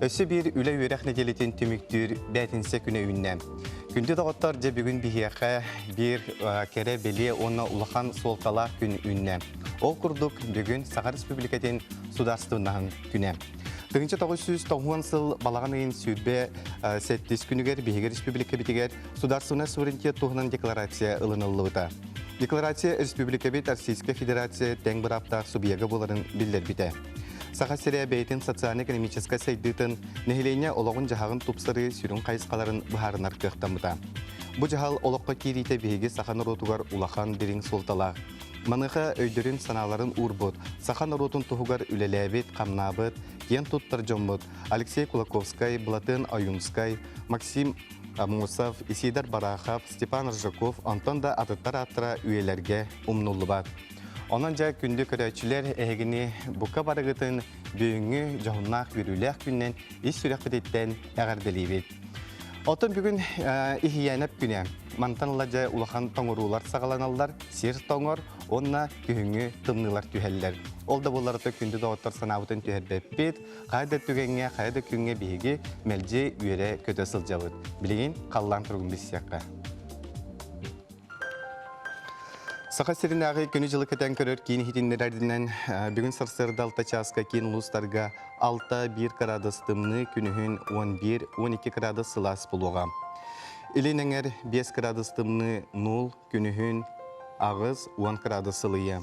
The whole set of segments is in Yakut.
Өссө биир үлэ-үөрэх нэдиэлэтин түмүктүүр бээтинсэ күнэ үүннэ. Күндү доҕоттор, дьэ бүгүн биһиэхэ биир кэрэ-бэлиэ уонна улахан суолталаах күн үүннэ. Ол курдук, бүгүн Саха Республикатын Судаарыстыбыннаһын күнэ. Тыһыынча тоҕус сүүс тоҕуон сыл балаҕан ыйын сүүрбэ сэттис күнүгэр биһиги республикабитигэр судаарыстыбаннай суверенитет туһунан декларация ылыныллыбыта. Декларация республикабыт Российскай Федерация тэҥ бырааптаах субъега буоларын биллэрбитэ. Саха сирэ бэйэтин социальнай-экономическай сайдыытын, нэһилиэнньэ олоҕун-дьаһаҕын тупсарыы сүрүн хайысхаларын быһаарынар кыахтаммыта. Бу дьаһал олоххо киириитэ биһиги саха норуотугар улахан дириҥ суолталаах. Маныаха өйдөрүн-санааларын уурбут, саха норуотун туһугар үлэлээбит, хамнаабыт, киэн туттар дьоммут Алексей Кулаковскай, Былатыан Ойуунскай, Максим Амусов, Исидар Барахов, Степан Ржаков, онтон да атыттар ааттара үйэлэргэ умнуллубат. Онон дьэ күндү көрөөччүлэр эһигини бука барыгытын бүгүҥҥү дьоһуннаах үөрүүлээх күнүнэн ис сүрэхпититтэн эҕэрдэлиибит. Отун бүгүн иһийээнэп күнэ. Мантан ыла дьэ улахан тоҥуруулар саҕаланаллар, сир тоҥор уонна күһүҥҥү тымныылар түһэллэр. Ол да буолларыта күндү доҕоттор санаабытын түһэрбэппит, хайа да түгэҥҥэ, хайа да күҥҥэ биһиги мэлдьи үөрэ-көтө сылдьабыт. Билигин халлаан туругун билсиэххэ. Саха сиринээҕи күнү-дьылы кэтэн көрөр киин иһитиннэрэринэн, бүгүн сарсыарда алта чааска киин улуустарга алта биир кыраадыс тымныы, күнүһүн он биир, он икки кыраадыс сылаас буолуоҕа. Илин эҥэр биэс кыраадыс тымныы нуль, күнүһүн аҕыс, он кыраадыс ылыйы.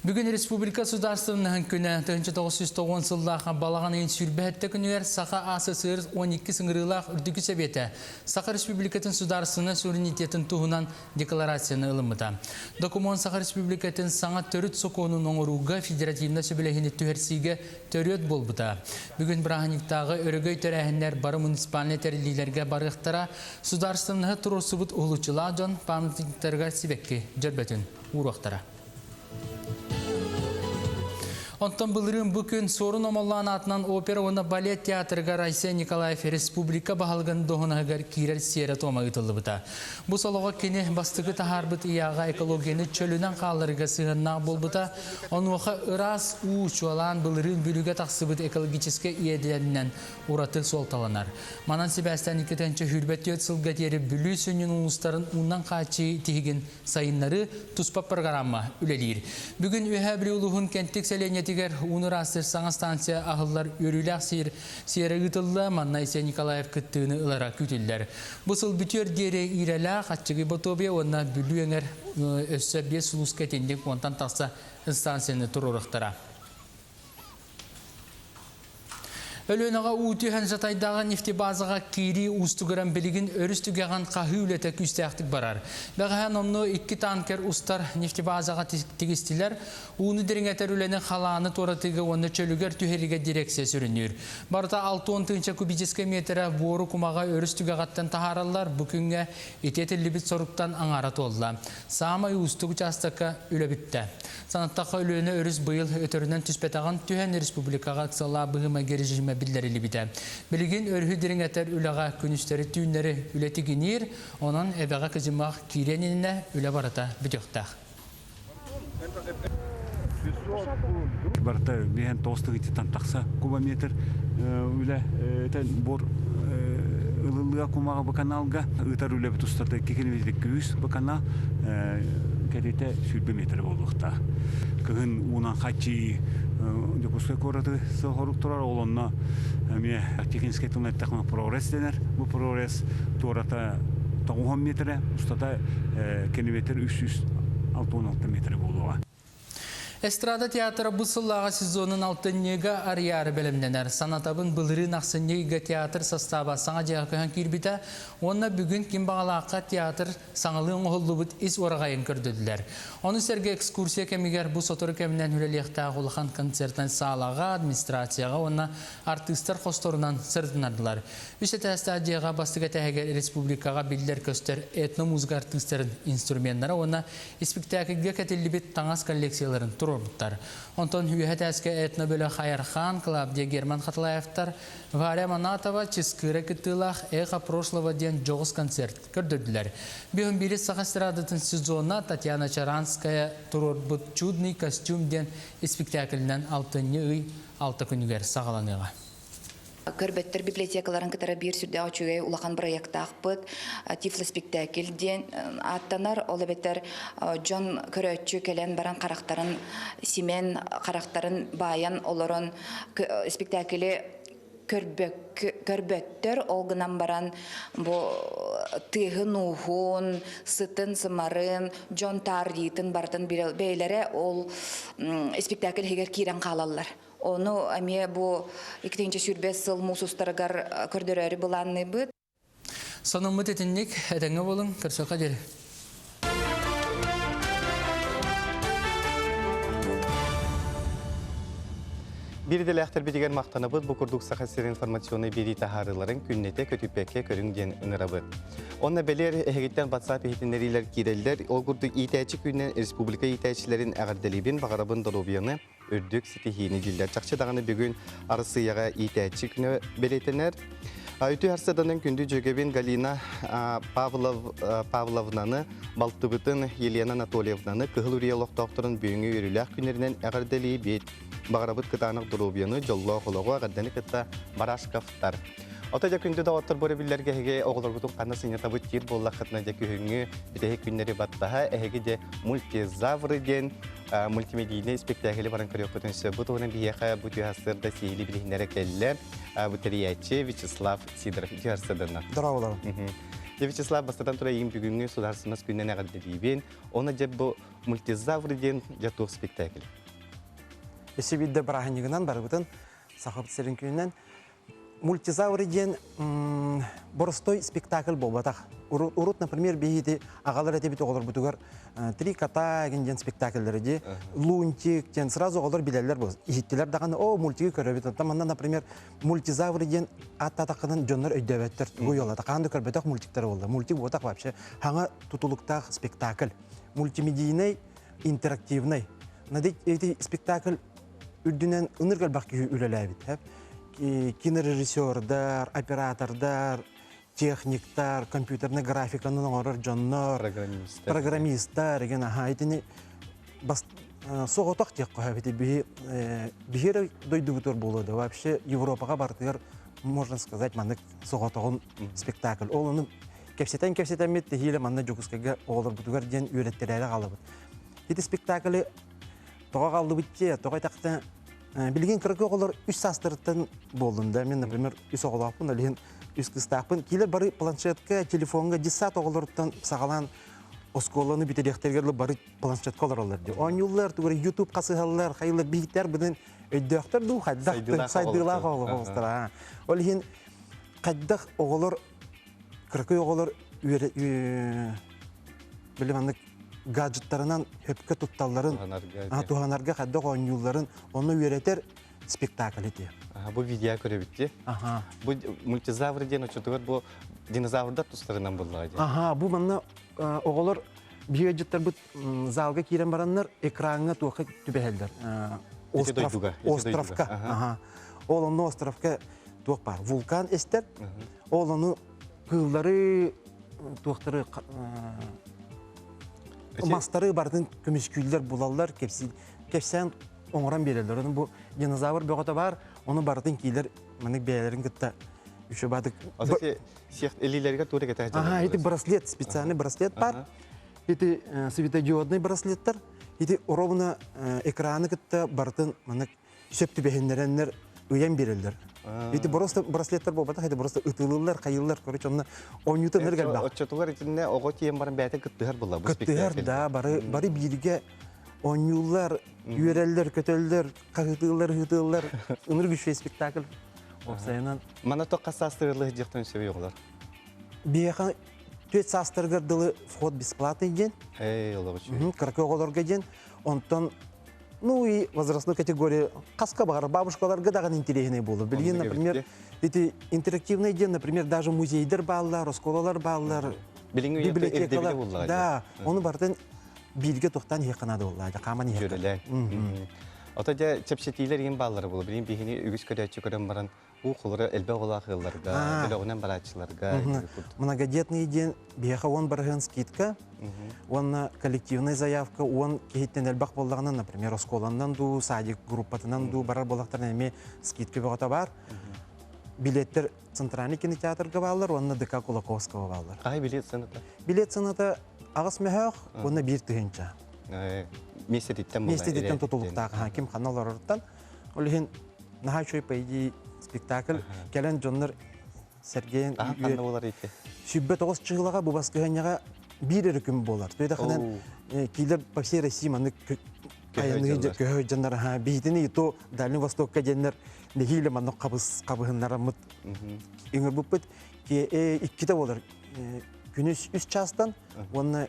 Бүгүн Республика Судаарыстыбаннаһын күнэ 1909 сыллаах балаҕан ыйын сүүрбэ хэтте күнүгэр Саха АССР 12 ыҥырыылаах Үрдүкү Сэбиэтэ Саха Республикатын судаарыстыбаннай суверенитетын туһунан декларацияны ылыммыта. Докумуон Саха Республикатын саҥа төрүт сокуонун оҥорууга федеративнай сөбүлэһиини түһэрсиигэ төрүөт буолбута. Бүгүн бырааһынньыктааҕы өрөгөй тэрээһиннэр бары муниципальнай тэриллиилэргэ барыахтара, судаарыстыбаннаһы туруорсубут уһулуччулаах дьон памятниктарыгар сибэкки дьөрбөтүн уруохтара. Онтон былырыын бу күн Суорун Омоллоон аатынан опера уонна балет театрыгар Айсен Николаев республика баһылыгын доһунаһыгар киирэр сиэрэ-туома ыытыллыбыта. Бу солоҕо кини бастакы таһаарбыт ыйааҕа экологияны чөлүнэн хаалларыыга сыһыаннаах буолбута. Онуоха ыраас уу, чуолаан былырыын бүлүүгэ тахсыбыт экологическай иэдэнинэн ураты суолталанар. Манан сибээстээн иккитэн сүүрбэ түөрт сылга диэри Бүлүү сүнньүн улуустарын уунан хааччыы тиһигин Сайыннары туспа программа үлэлиир. Бүгүн Үөһээ Бүлүү улууһун Кэнтик сэлиэнньэтигэр ууну ыраастыыр саҥа станция аһыллар үөрүүлээх сиэр сиэрэ ыытылла, манна Айсен Николаев кыттыыны ылара күүтүллэр. Бу сыл бүтүөр диэри Иирэлээх, Аччыгый Ботуобуйа уонна Бүлүү эҥэр өссө биэс сулууска итинник уонтан тахса станцияны туруорухтара. Өлүөнэҕэ уу түһэн жатайдааҕы нефтебазаҕа киирии уустугуран билигин өрүс түгэҕин хаһыы үлэтэ күүстээхтик барар. Бэҕэһээн онно икки танкер устар нефтебазаҕа тигистилэр. Ууну дириҥэтэр үлэни халааны туоратыыга уонна чөлүгэр түһэриигэ дирэксия сүрүнүүр. Барыта 6 он тыынча кубическай метрэ буору кумаҕа өрүс түгэҕиттэн таһаараллар. Бу күҥҥэ ити этиллибит соруктан аҥаара туолла. Саамай уустук учаастакка үлэ бүттэ. Санаттахха, Өлүөнэ өрүс быйыл өтөрүнэн түспэтэҕин түһэн, республикаҕа ыксалаабыһымайга режимэ биллэриллибитэ. Билигин өрүһү дириҥэтэр үлэҕэ күнүстэри-түүннэри үлэ тигиниир, онон эбэҕэ кыдьымах киириэн иннинэ үлэ барыта бүтүөхтээх. Барыта биһэн тоҕус тыгытыттан тахса кубометр үлэ буор ылылыа кумаҕы быканаалга ыытар үлэбит устата икки километр үс быканаа кэтитэ сүүрбэ метрэ буолуохтаах. Кыһын уунан хаччыы Дьокуускай куораты сорук турар, ол онно эмиэ Тихвинскэй тылынан эттэххинэ Прогресс дэнэр. Бу Прогресс туората тоҕуһан метрэ, устата километр үс сүүс алта уон алта метрэ буолуоҕа. Эстрада театра бу сыллааҕы сезонун алтынньыга арыйаары бэлэмнэнэр. Санатабын, былырыын ахсынньы ыйга театр састааба саҥа дьиэҕэ көһөн киирбитэ уонна бүгүн ким баҕалаахха театр Саҥалыы оҥоһуллубут ис уораҕайын көрдөрдүлэр. Ону сэргэ экскурсия кэмигэр бу сотору кэминэн үлэлиэхтээх улахан концертын саалаҕа, администрацияҕа уонна артыыстар хосторунан сырытыннардылар. Үс этээстээх дьиэҕэ бастакы этээһигэр республикаҕа биллэр-көстөр этномузыка артыыстарын инструменнара уонна испиктээкилгэ кэтиллибит таҥас коллекцияларын туруорбуттар. Онтон үөһэ этээскэ этнобөлөх Айархан, Клавдия Герман Хатылаевтар, Варя Манатова, Чыскыыра кыттыылаах Эхо прошлого диэн дьоҕус концерт Көрдөрдүлэр. Бүгүн биир саха эстрадатын сезона Татьяна Чаранская туруорбут Чудный костюм диэн испиктээкилинэн алтынньы ый алта күнүгэр саҕаланыаҕа. Көрбөттөр библиотекаларын кытары биир сүрдээх үчүгэй улахан бырайыактаахпыт Тифлоспектакль диэн ааттанар ол эбэтэр дьон көрөөччү кэлэн баран харахтарын симэн харахтарын баайан олорон спектакли көрбөттөр ол гынан баран бу тыаһын-ууһун, сытын-сымарын, дьон таарыйыытын барытын бэйэлэрэ ол спектакль иһигэр киирэн хаалаллар. Ону эмиэ бу икитинчи сүүрбэ сыл муус устарыгар көрдөрөөрү былаанныыбыт. Сонуммут итинник, этэҥҥэ буолуҥ, көрсүөххэ диэри. Бир идэлээхтербитигэр махтанабыт бу курдук Саха сирин информационный бирии таһаарыыларын күннэтэ көтүппэккэ көрүҥ диэн ыҥырабыт. Онно бэлиэр эһигиттэн WhatsApp иһитиннэриилэр кирэллэр. Ол курдук иитээчи күнүнэн республика иитээччилэрин эҕэрдэлиибин, баҕарабын долобуйаны үрдүк ситиһиини дииллэр. Чахчы даҕаны бүгүн Арассыыйаҕа иитээччи күнэ бэлиэтэнэр. Үтүө харсыаданан күндү дьүөгэбин Галина Павловнаны, балтыбытын Елена Анатольевнаны, Кыһыл Үрүйэ олохтоохторун бүгүҥҥү үөрүүлээх күннэринэн эҕэрдэлии баҕарабыт кытаанах доруобуйаны, дьоллоох олоҕу, эҕэрдэни кытта Барашковтар. Ото дьэ күндү доҕоттор бу биллэргэ эһиги оҕолоргутун ханна сынньатабыт диир буоллаххытына дьэ күһүҥҥү бүтэһик күннэри баттаһа эһиги дьэ мультизавры диэн мультимедийнай испэктээкили баран көрүөхпүтүн сөп. Бу туһунан биһиэхэ бу тыаһарсыарда сиһили билиһиннэрэ кэллэ бүтэрийээччи Вячеслав Сидоров тыаһарсыарданнар. Дорооболор. Дьэ, Вячеслав, бастатан турайым бүгүҥҥү судаарсынас күннэн эҕэрдэлиибин. Оны дьэ бу мультизавр диэн дьэ туох спектакль? Эсибидде бырааһынньыгынан барыбытын Сахабыт сирин күнүнэн мультизавры диэн боростой спектакль буолбатах урут например биһиги агалар этибит оҕолорбутугар три кота диэн спектакльлары дии лунтик диэн сразу оҕолор билэллэр бу иһиттилэр даҕаны о мультигы көрөбүт оттон манна например мультизавры диэн аттатаккынан дьоннор өйдөөбөттөр тугу уолата хаан да көрбөтөх мультиктар буолла мультик буотах вообще хаҥа тутулуктаах спектакль мультимедийнай интерактивнай эти спектакль үрдүнэн ынырык элбэх киһи үлэлээбиттэр кинорежиссердар оператордар техниктар компьютернай графиканы оҥорор дьоннор программистар ген аха итини соҕотох диэххэ биһи биһи эрэ дойдубутугар буолуо да вообще европаға барытыгар можно сказать маннык соҕотоҕун спектакль ол ону кэпсэтэн кэпсэтэммит тэһиилэ манна дьокускайга оҕолорбутугар диэн үөрэттэрээри хаалабыт ити спектакли тоҕо хааллыбыччы, тоҕо этэхтэ билигин кыракы оҕолор үс саастарыттан буоллун да мен например үс оҕолоохпун олиһин үс кыстаахпын киилэр бары планшетка телефоҥҥа детсад оҕолоруттан саҕалаан оскуоланы бүтэриэхтэригэр бары планшетка олороллор дии оонньууллар тугура ютуб хасыһаллар хайылар биһиктэр быдын өйдөөхтөр дуу хайдах сайдыылаах оҕолор ол иһин хайдах оҕолор кыракый оҕолор били маннык гаджеттарынан сөпкө тутталларын туһанарга хайдах оонньуулларын онно үөрэтэр спектакль этиэ бу видео көрөбүт ди бу мультизавр диэн очотугар бу динозаврдар тустарынан буллаҕа ди аха бу манна оҕолор биоэджеттарбыт залга киирэн бараннар экраҥҥа туохха түбэһэллэр островка ол онно островка туох баар вулкан эстэр ол ону кыыллары туохтары мастары барытын көмүскүүллэр булаллар кэпсээн оҥорон биэрэллэр бу динозавр бөҕөтө баар ону барытын киилэр маннык бэйэлэрин кытта үчү баадык итик браслет специальный браслет бар Ити светодиоднай браслеттар ити ровно экраны кытта барытын маннык сөп түбэһиннэрэннэр ыйан биэрэллэр. Ити браслеттар буолбатах, ити просто ытылыллар, хайыллар, короче, онно оонньуутан эргэрбэх. Оччотугар итиннэ оҕо тиийэн баран бэйэтэ кыттыһар булла бу Кыттыһар да, бары бары бииргэ оонньууллар, үөрэллэр, көтөллөр, хаһытыыллар, ыһытыыллар. Ыныр күшвей спектакль. Опсайынан. Мана тоққа саастырылы диэхтен сөбей оҕолор. Биэха Түөт саастарыгар дылы вход бесплатный диэн. Кыракы оҕолорго диэн. Онтон ну и возрастную категорию хаска баҕар бабушкаларга даҕан интириэһинэй буолар. Билигин, например, эти интерактивные диэн, например, даже музейдер бааллар, оскуолалар бааллар, библиотекалар. Да, оны бартын бииргэ тоқтан иһэ канада болла, хааман иһэ. Жүрүлэ. Ото дьэ чэпчэтиилэр иһин бааллар болу. Билин биһини үгүс көрөөччү көрөн баран Уухулара элбэх улаах ыалларга, бөлөҕүнэн барааччыларга Многодетные диэн биһиэхэ уон барыһыан скидка уонна коллективная заявка уон киһиттэн элбэх буоллаҕына, например, оскуоланан дуу, садик группатынан дуу барар буоллахтарына эмиэ скидка бөҕөтө баар. Билеттэр центральный кинотеатрга бааллар уонна ДК Кулаковского бааллар. Аҕай билет сыаната? Билет сыаната аҕыс мөһөөх уонна биир тыһыынча. Миэстэтиттэн Миэстэтиттэн тутулуктаах. Ким ханна олорортан Ол иһин наһаа үчүгэй по идее спектакль кэлэн дьоннор Сергеен сүббэ тоҕус чыылаҕа бу баскыһанньаҕа биир эрэ күн буолар. Туйдахынан киилэр по всей России маннык айаныы көһө дьоннор аха биитини ито Дальний Востокка диэннэр нэһиилэ маннык хабыс хабыһыннараммыт үҥөрбүппүт иккитэ болар күнүс үс чаастан уонна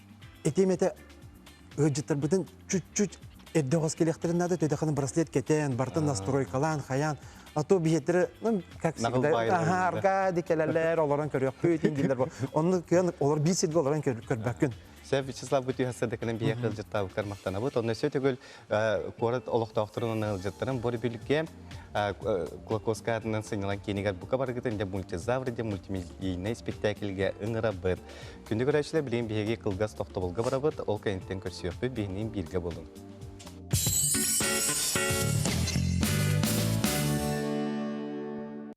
этиэмэтэ ыалдьыттарбытын чуть-чуть эрдэ оҕос кэлиэхтэрин наада төдэхин браслет кэтээн бартын настройкалаан хайаан а то биһиэттэрэ ну как всегда аха аркади кэлэлэр олорон көрүөхпүт дииллэр бу онну кыан олор биир сиргэ олорон көрбөккүн Сэ Вячеслав Бутюха садаkanын биһиэхэ ыалдьыттаабыккар махтанабыт. Онно сөтөгөл куорат олохтоохторун ыалдьыттарын бу републике Клокоска атынан сынньалаң киинигэр бука барыгытын для мультизавр для мультимедийнай спектакльге ыҥырабыт. Күнү көрөөчүлэр билигин биһиги кылгас тохтобулга барабыт, ол кэнниттэн көрсүөхпүт биһинин бирге болун.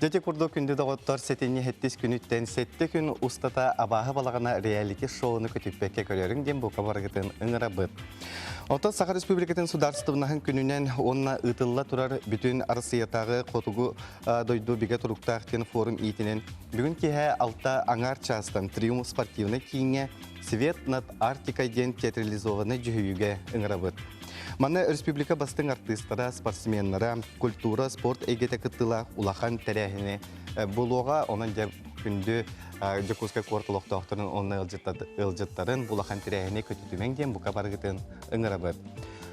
Дьэ, курдук күндү доҕоттор, сэтинньи хэттис күнүттэн сэттэ күн устата абааһы балаҕана реалити шоуну көтүппэккэ көрөрүҥ диэн бука барыгытын ыҥырабыт. Оттон Саха Республикатын Судаарыстыбнаһын күнүнэн уонна ыытылла турар бүтүн Арассыыйатааҕы хотугу дойду бигэ туруктаах диэн форум иитинэн бүгүн киэһэ алта аҥаар чаастан Триум спортивнай кииҥҥэ Свет над Арктика диэн театрализованнай дьүһүйүүгэ ыҥырабыт. Манна республика бастыҥ артыыстара, спортсменнара, культура, спорт эйгэтэ кыттыылаах улахан тэрээһини булуоҕа. Онон дьэ күндү Дьокуускай куорат олохтоохторун онно ыалдьыттарын улахан тэрээһини көтүтүмэҥ диэн бука барыгытын ыҥырабыт.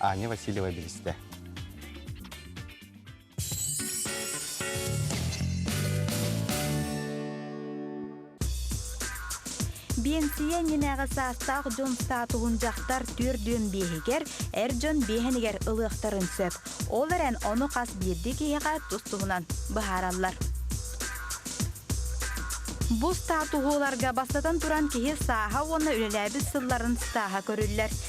Аня Васильева билистэ. Биэнсийэ иннинээҕи саастаах дьон статуһун дьахтар түөрт дюйм биэһигэр, эр дьон биэһэнигэр ылыахтарын сөп. Ол эрэн ону хас биирдии киһиэхэ тус-туһунан быһаараллар. Бу статуһу ыларга бастатан туран киһи сааһа уонна үлэлээбит сылларын сааһа көрүллэр.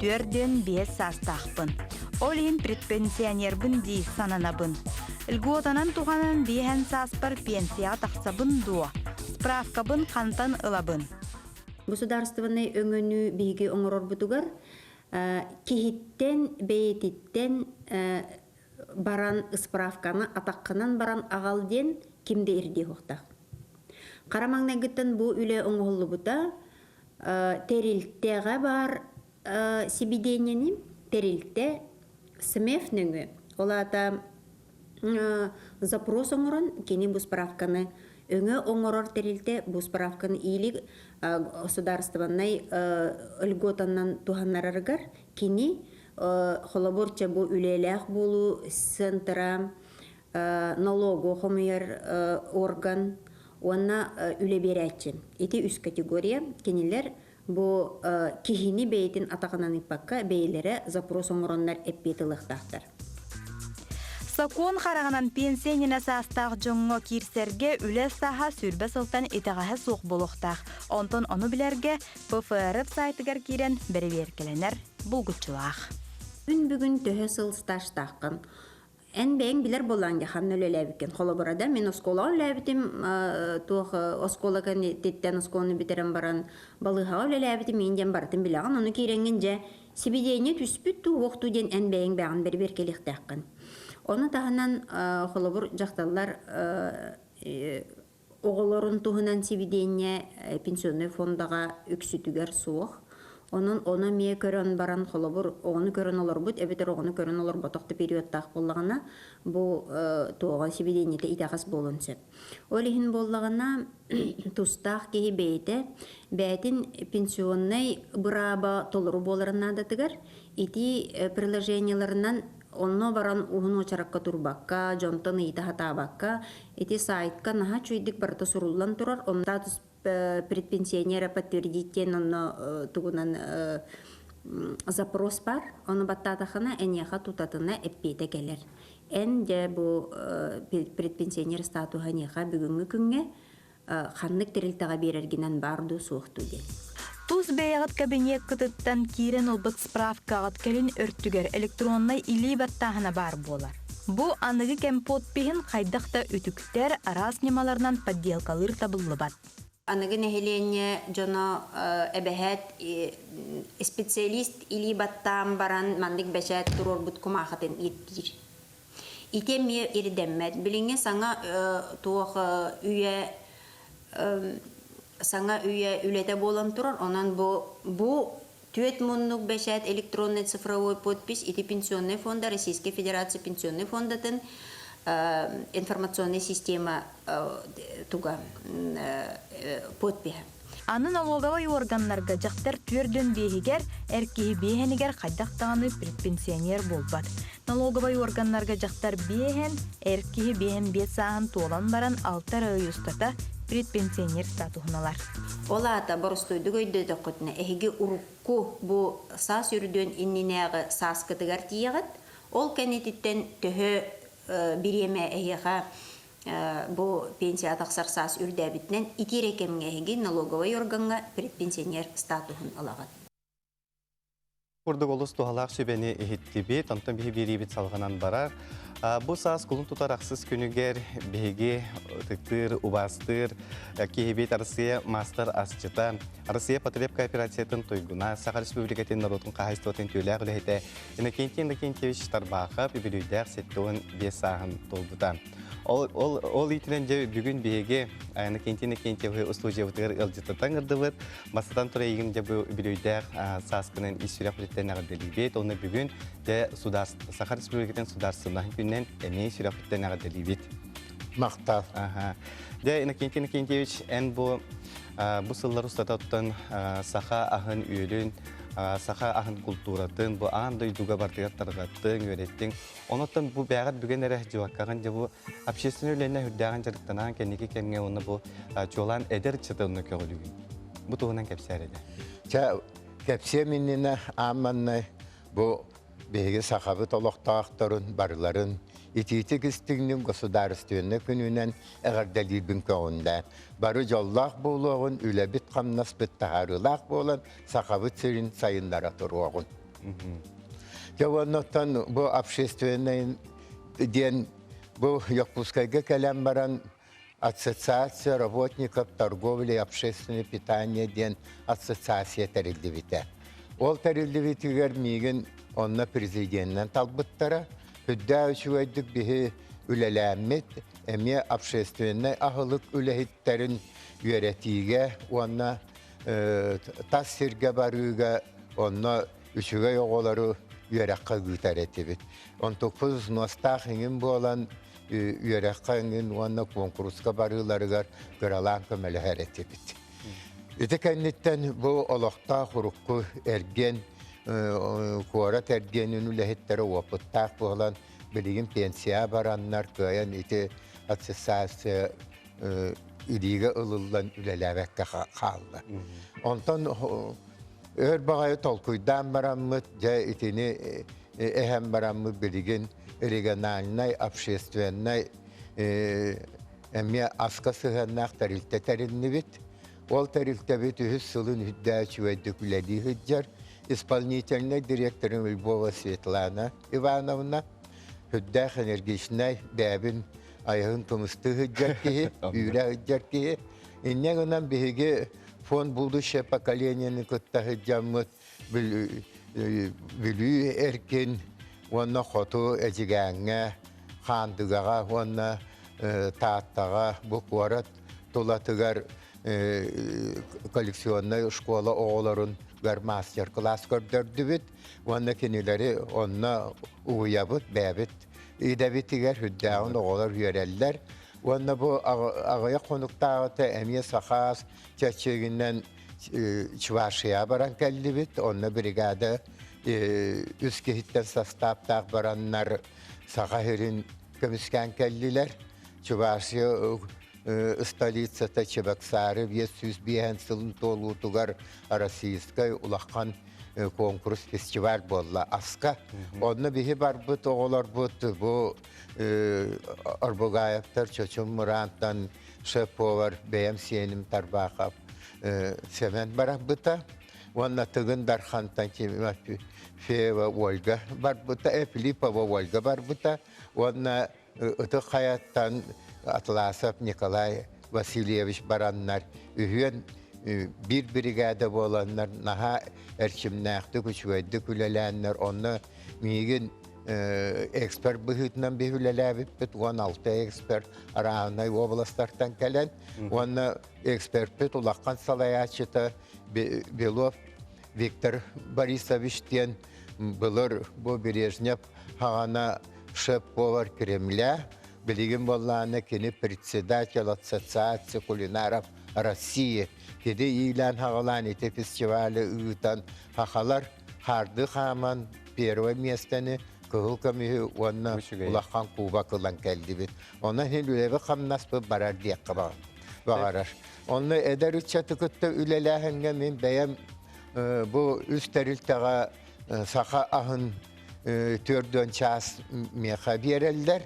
Түөрдүөн биэс саастаахпын. Ол иһин предпенсионербын дии сананабын. Льготанан туһанан биэһэн сааспар пенсияҕа тахсабын дуо? Справкабын хантан ылабын? Государственнай өҥөнү биһиги оҥорорбутугар киһиттэн бэйэтиттэн баран справканы атаххынан баран аҕал диэн ким да ирдиэһуохтаах. Хара маҥнайгыттан бу үлэ оҥоһуллубута тэрилтэҕэ баар сибидиэнньэни тэрилтэ СМЭФ нөҥү, ол аата запрос оҥорон кини бу справканы өҥө оҥорор тэрилтэ бу справканы иилик судаарыстыбаннай льготанан туһаннарарыгар кини холобур бу үлэлээх буолуу центра налогу хомуйар орган уонна үлэ биэрээччи. Ити үс категория. Кинилэр бу киһини бэйэтин атаҕынан ыыппакка бэйэлэрэ запрос оҥороннор эппиэт ылыахтаахтар. Сокуон хараҕынан пенсиэнинэ саастаах дьоҥҥо киирсэргэ үлэ сааһа сүүрбэ сылтан итэҕэһэ суох буолуохтаах. Онтон ону билэргэ ПФР саайтыгар киирэн бэрэбиэркэлэнэр булгуччулаах. Күн бүгүн төһө сыл стажтааххын? Эн бэйэҥ билэр буоллаҥ дьэ ханна үлэлээбиккин. Холобура да мин оскуолаҕа үлэлээбитим, туох оскуола кэнниттэн оскуоланы бүтэрэн баран балыыһаҕа үлэлээбитим мин диэн барытын билэҕин. Ону киирэҥҥин дьэ сибидиэнньэ түспүт дуу, уох дуу диэн эн бэйэҥ бэйэҕин бэрибиэркэлиэхтээххин. Ону таһынан холобур дьахталлар оҕолорун туһунан сивидение пенсионнай фондаҕа үксүтүгэр суох. Онон ону эмиэ көрөн баран, холобур, оҕону көрөн олорбут эбэтэр оҕону көрөн олорботох да периодтаах буоллаҕына, бу туоҕа сивидениета итэҕэс буолуон сөп. Ол иһин буоллаҕына, тустаах киһи бэйэтэ бэйэтин пенсионнай бырааба толору буоларын наадатыгар итии приложениеларынан Онно баран уһун уочаракка турбакка, дьонтон ыйыта сатаабакка, ити саайтка наһаа үчүгэйдик барыта суруллан турар. Онно предпенсионер подтвердить диэн онно тугунан запрос бар. Ону баттаатахына эниэхэ тутатына эппиэтэ кэлэр. Эн дьэ бу предпенсионер статуһа эниэхэ бүгүҥҥү күҥҥэ ханнык тэрилтэҕэ биэрэргинэн баар дуу, суох дуу диэн. Тус бэйэҕит кабинеккытыттан киирэн ылбыт справкаҕыт кэлин өртүгэр электроннай илии баттааһына баар буолар. Бу аныгы кэм подпиһин хайдах да үтүктэр, араас ньымаларынан подделкалыыр табыллыбат. Аныгы нэһилиэнньэ дьоно эбэһээт специалист илии баттаан баран маннык бэчээт туруорбут кумаахытын ииттиир. Ити эмиэ ирдэммэт. Билиҥҥи саҥа туох үйэ саҥа үйэ үлэтэ буолан турар, онон бу бу түөрт муннук бэчээт электроннай цифровой подпись ити пенсионнай фонда Российскай Федерация пенсионнай фондатын информационная система туга подпиһэ Аны налоговай уорганнарга дьахтар түөрдүөн биэһигэр, эр киһи биэһэнигэр хайдах даҕаны предпенсионер буолбат. Налоговай уорганнарга дьахтар биэһэн, эр киһи биэһэн биэс сааһын туолан баран алта эрэ ый устата предпенсионер статуһун ылар. Ол аата, боростуойдук өйдөөтөххүтүнэ, эһиги урукку бу саас үрдүөн иннинээҕи сааскытыгар тиийэҕит. Ол кэнититтэн төһө бириэмэ эһиэхэ Бу пенсия тахсар саас үрдээбитинэн ити эрэ кэмҥэ эһиги налоговай органҥа предпенсионер статуһун ылаҕыт. Курдук олус туһалаах сүбэни иһиттибит, онтон биһи биэриибит салҕанан барар. Бу саас кулун тутар ахсыс күнүгэр биһиги ытыктыыр, убаастыыр киһибит Арассыыйа маастар асчыта, Арассыыйа потреб кооперациятын туйгуна, Саха Республикатын норуотун хаһаайыстыбатын түүлээх үлэһитэ Иннокентий Иннокентьевич Тарбаахап үбүлүйдээх сэттэ уон биэс сааһын туолбута. Ол, ол, ол иитинэн дьэ бүгүн биһиги Иннокентий Иннокентьевы устуудьуйабытыгар ыалдьыттан гырдыбыт, бастатан туран эйигин дьэ бу үбүлүйдээх сааскынан ис сүрэх үлэттэн эҕэрдэлиибит. Онно бүгүн дьэ судаас Саха Республикатын судаарсыннаһын күнүнэн эмиэ сүрэх үлэттэн эҕэрдэлиибит. махтал дэ иннокентий иннокентьевич эн бу бу сыллар устата оттон саха аһын-үөлүн саха аһын култууратын бу аан дойдуга бартыгар тарҕаттыҥ үөрэттиҥ онон бу бээҕэр бүгэн эрэ дьыбаккаҕын дьэ бу общественный үлэнэ үрдээҕин дьарыктанаан кэнники кэмҥэ уонна бу чуолаан эдэр чытынны көҕүлүүгүн бу туһунан кэпсээр этэ чэ кэпсиэм иннинэ аамманнай бу биһиги сахабыт олохтоохторун барыларын итиитик-истиҥник государственнай күнүнэн эҕэрдэлиирбин көҕүндэ. Бары дьоллоох буолуоҕун, үлэбит-хамнаспыт таһаарыылаах буолан, Сахабыт сирин сайыннара туруоҕун. Дьэ уоннаттан бу общественнай диэн бу Якутскайга кэлэн баран Ассоциация работников торговли и общественного питания диэн ассоциация тэриллибитэ. Ол тэриллибитигэр миигин онно президенинэн талбыттара. Үрдээх үчүгэйдик биһи үлэлээммит, эмиэ общественнай аһылык үлэһиттэрин үөрэтиигэ уонна тас сиргэ барыыга онно үчүгэй оҕолору үөрэххэ ыытар этибит. Онтукпут взностаах иҥин буолан үөрэххэ эҥин уонна куонкуруска барыыларыгар кыралаан көмөлөһөр этибит. Ити кэнниттэн бу олохтоох урукку эргиэн, куорат эргиэнин үлэһиттэрэ уопуттаах буолан, билигин пенсияҕа бараннар кыайан ити ассоциация илиигэ ылыллан үлэлээбэккэ хаалла. Онтон Өр баҕайы толкуйдаан бараммыт, дьэ итини э, э, эһэн бараммыт билигин региональнай, общественнай э, эмиэ аска сыһыаннаах тэрилтэ тэриннибит. Ол тэрилтэбит үһүс сылын үрдээ үчүгэйдик үлэлии сылдьар. Исполнительнай директорым Львова Светлана Ивановна, үрдээх энергичнэй, бэйэбин айаһын тумусту сыддьар киһи, үүрэ сыддьар киһи. Инньэ гынан биһиги Фонд «Будущее поколение»ни кытта сылдьаммыт Бүлүү Эркин уонна Хоту Эдьигээҥҥэ, Хаандыгаҕа уонна Тааттаҕа бу куорат тулатыгар коллекционнай школа оҕолорун мастер-класс көрдөрдүбүт уонна кинилэри онно угуйабыт, бэйэбит идэбитигэр, үрдээҕин оҕолор үөрэллэр. Уонна бу аҕыйах хонуктааҕыта эмиэ сахаас чэрчигинэн Чувашия баран кэллибит. Онно бригада үс киһиттэн састааптаах бараннар Саха сирин көмүскээн кэллилэр. Чувашия столицата Чебоксары биэс сүүс биэһэн сылын туолуутугар Российскай улахан конкурс фестиваль буолла Аска. Онно биһи барбыт оҕолорбут бу Орбугаевтар чочум мыраантан сөп буолар бэйэм сиэним Тарбахов Сэмэн барабыта уонна Тыгын Дархантан Феева Ольга барбыта, Филиппова Ольга барбыта уонна Ытык Хайаттан Атласов Николай Васильевич бараннар үһүөн биир биригээдэ буоланнар наһаа эрчимнээхтик, үчүгэйдик үлэлээннэр онно миигин эксперт быһыытынан биһи үлэлээбиппит уон алта эксперт арааһынай уобаластартан кэлэн уонна экспертпит улахан салайааччыта Белов Виктор Борисович диэн былыр бу Бережнев хаҕана шеф-повар Кремля билигин боллааны кини председатель ассоциации кулинаров России кини иилээн-хаҕалаан ити фестивалі ыытан хахалар харды хааман первое миэстэни кыһыл көмүһү уонна улахан кубок ылан кэллибит. Онон иһин үлэбит-хамнаспыт барар диэххэ баҕарар. Онно эдэр ыччаты кытта үлэлээһиҥҥэ мин бэйэм бу үс тэрилтэҕэ саха аһын төрдүөн чаас миэхэ биэрэллэр.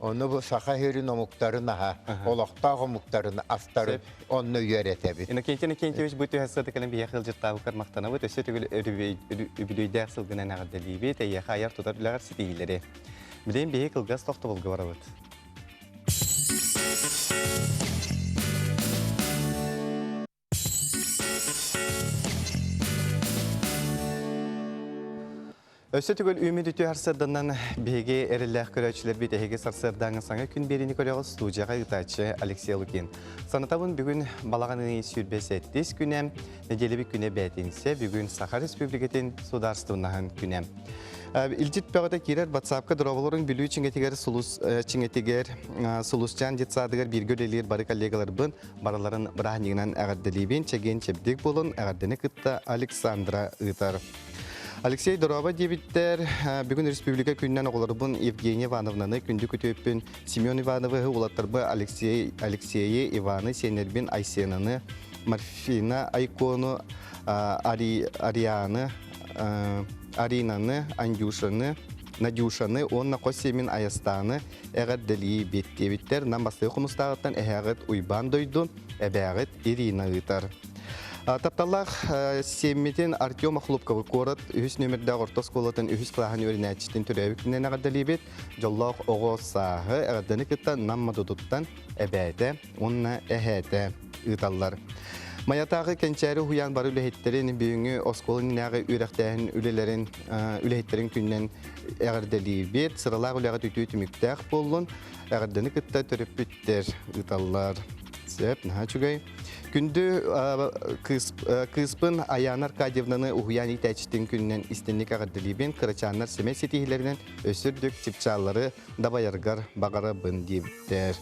Ону бу саха иһирин омуктарын аһа, олохтоох омуктарын астарын онно үөрэтэбит. Иннокентий Иннокентьевич бу түһэ сыдыканы биһиэхэ ыалдьыттаабыккар махтанабыт. Өссө түгүл үбүлүөйдээх сылгынан эҕэрдэлиибит, эйиэхэ айар тутар үлэҕэр ситиһиилэри. Билигин биһиги кылгас тохтобулга барабыт. Өссө түгел үмүт үтү харсырданан биһиги эрилээх көрөөчүлэрбит эһиги сарсыардааҥы саҥа күн биэриини көрөҕүз студияга ытааччы Алексей Лукин. Санатабын бүгүн балаҕан ый сүүрбэ сэттис күнэ, неделебик күнэ бээтинсэ, бүгүн Саха Республикатын судаарыстыбыннаһын күнэ. Илдит бөҕөтө кирер батсаапка дроволорун бүлүү чиҥетигер сулус чиҥетигер сулусчаан детсадыгар бииргэ үлелиир бары коллегаларбын барыларын бырааһынньыгынан эҕэрдэлиибин чэгиэн чэбдик буолун эҕэрдэни кытта Александра ыытар Алексей Дороба диэбиттэр бүгүн республика күнүнэн оҕолорбун Евгения Ивановнаны күндү күтүөппүн Семен Ивановы улаттарбы Алексей Алексеи Иваны сенербин Айсенаны Марфина Айкону Ари, Арианы Аринаны Андюшаны Надюшаны уонна хос семин Айастаны эҕэрдэлиибит диэбиттэр Нам бастыҥ хомустааҕыттан эһээҕит Уйбаан дойду, эбээҕит Ирина ыытар. Тапталлаах сиэммитин Артем Охлопковы куорат үһүс нүөмэрдээх орто оскуолатын үһүс кылааһын үөрэнээччитин төрөөбүтүнэн эҕэрдэлиибит. Дьоллоох оҕо сааһы, эҕэрдэни кытта Нам Модутуттан эбээтэ уонна эһээтэ ыыталлар. Майатааҕы кэнчээри уһуйаан бары үлэһиттэрин, бүгүҥҥү оскуола иннинээҕи үөрэхтээһин үлэлэрин үлэһиттэрин күнүнэн эҕэрдэлиибит. Сыралаах үлэҕит үтүө түмүктээх буоллун. Эҕэрдэни кытта төрөппүттэр ыыталлар. Сөп, наһаа үчүгэй. Күндү кыыспын Аяна Аркадьевнаны уһуйаан иитээччитин күнүнэн истинник эҕэрдэлиибин. Кырачааннар сэмэй ситиһиилэринэн өссө үрдүк чыпчааллары дабайаргар баҕарабын диэбиттэр.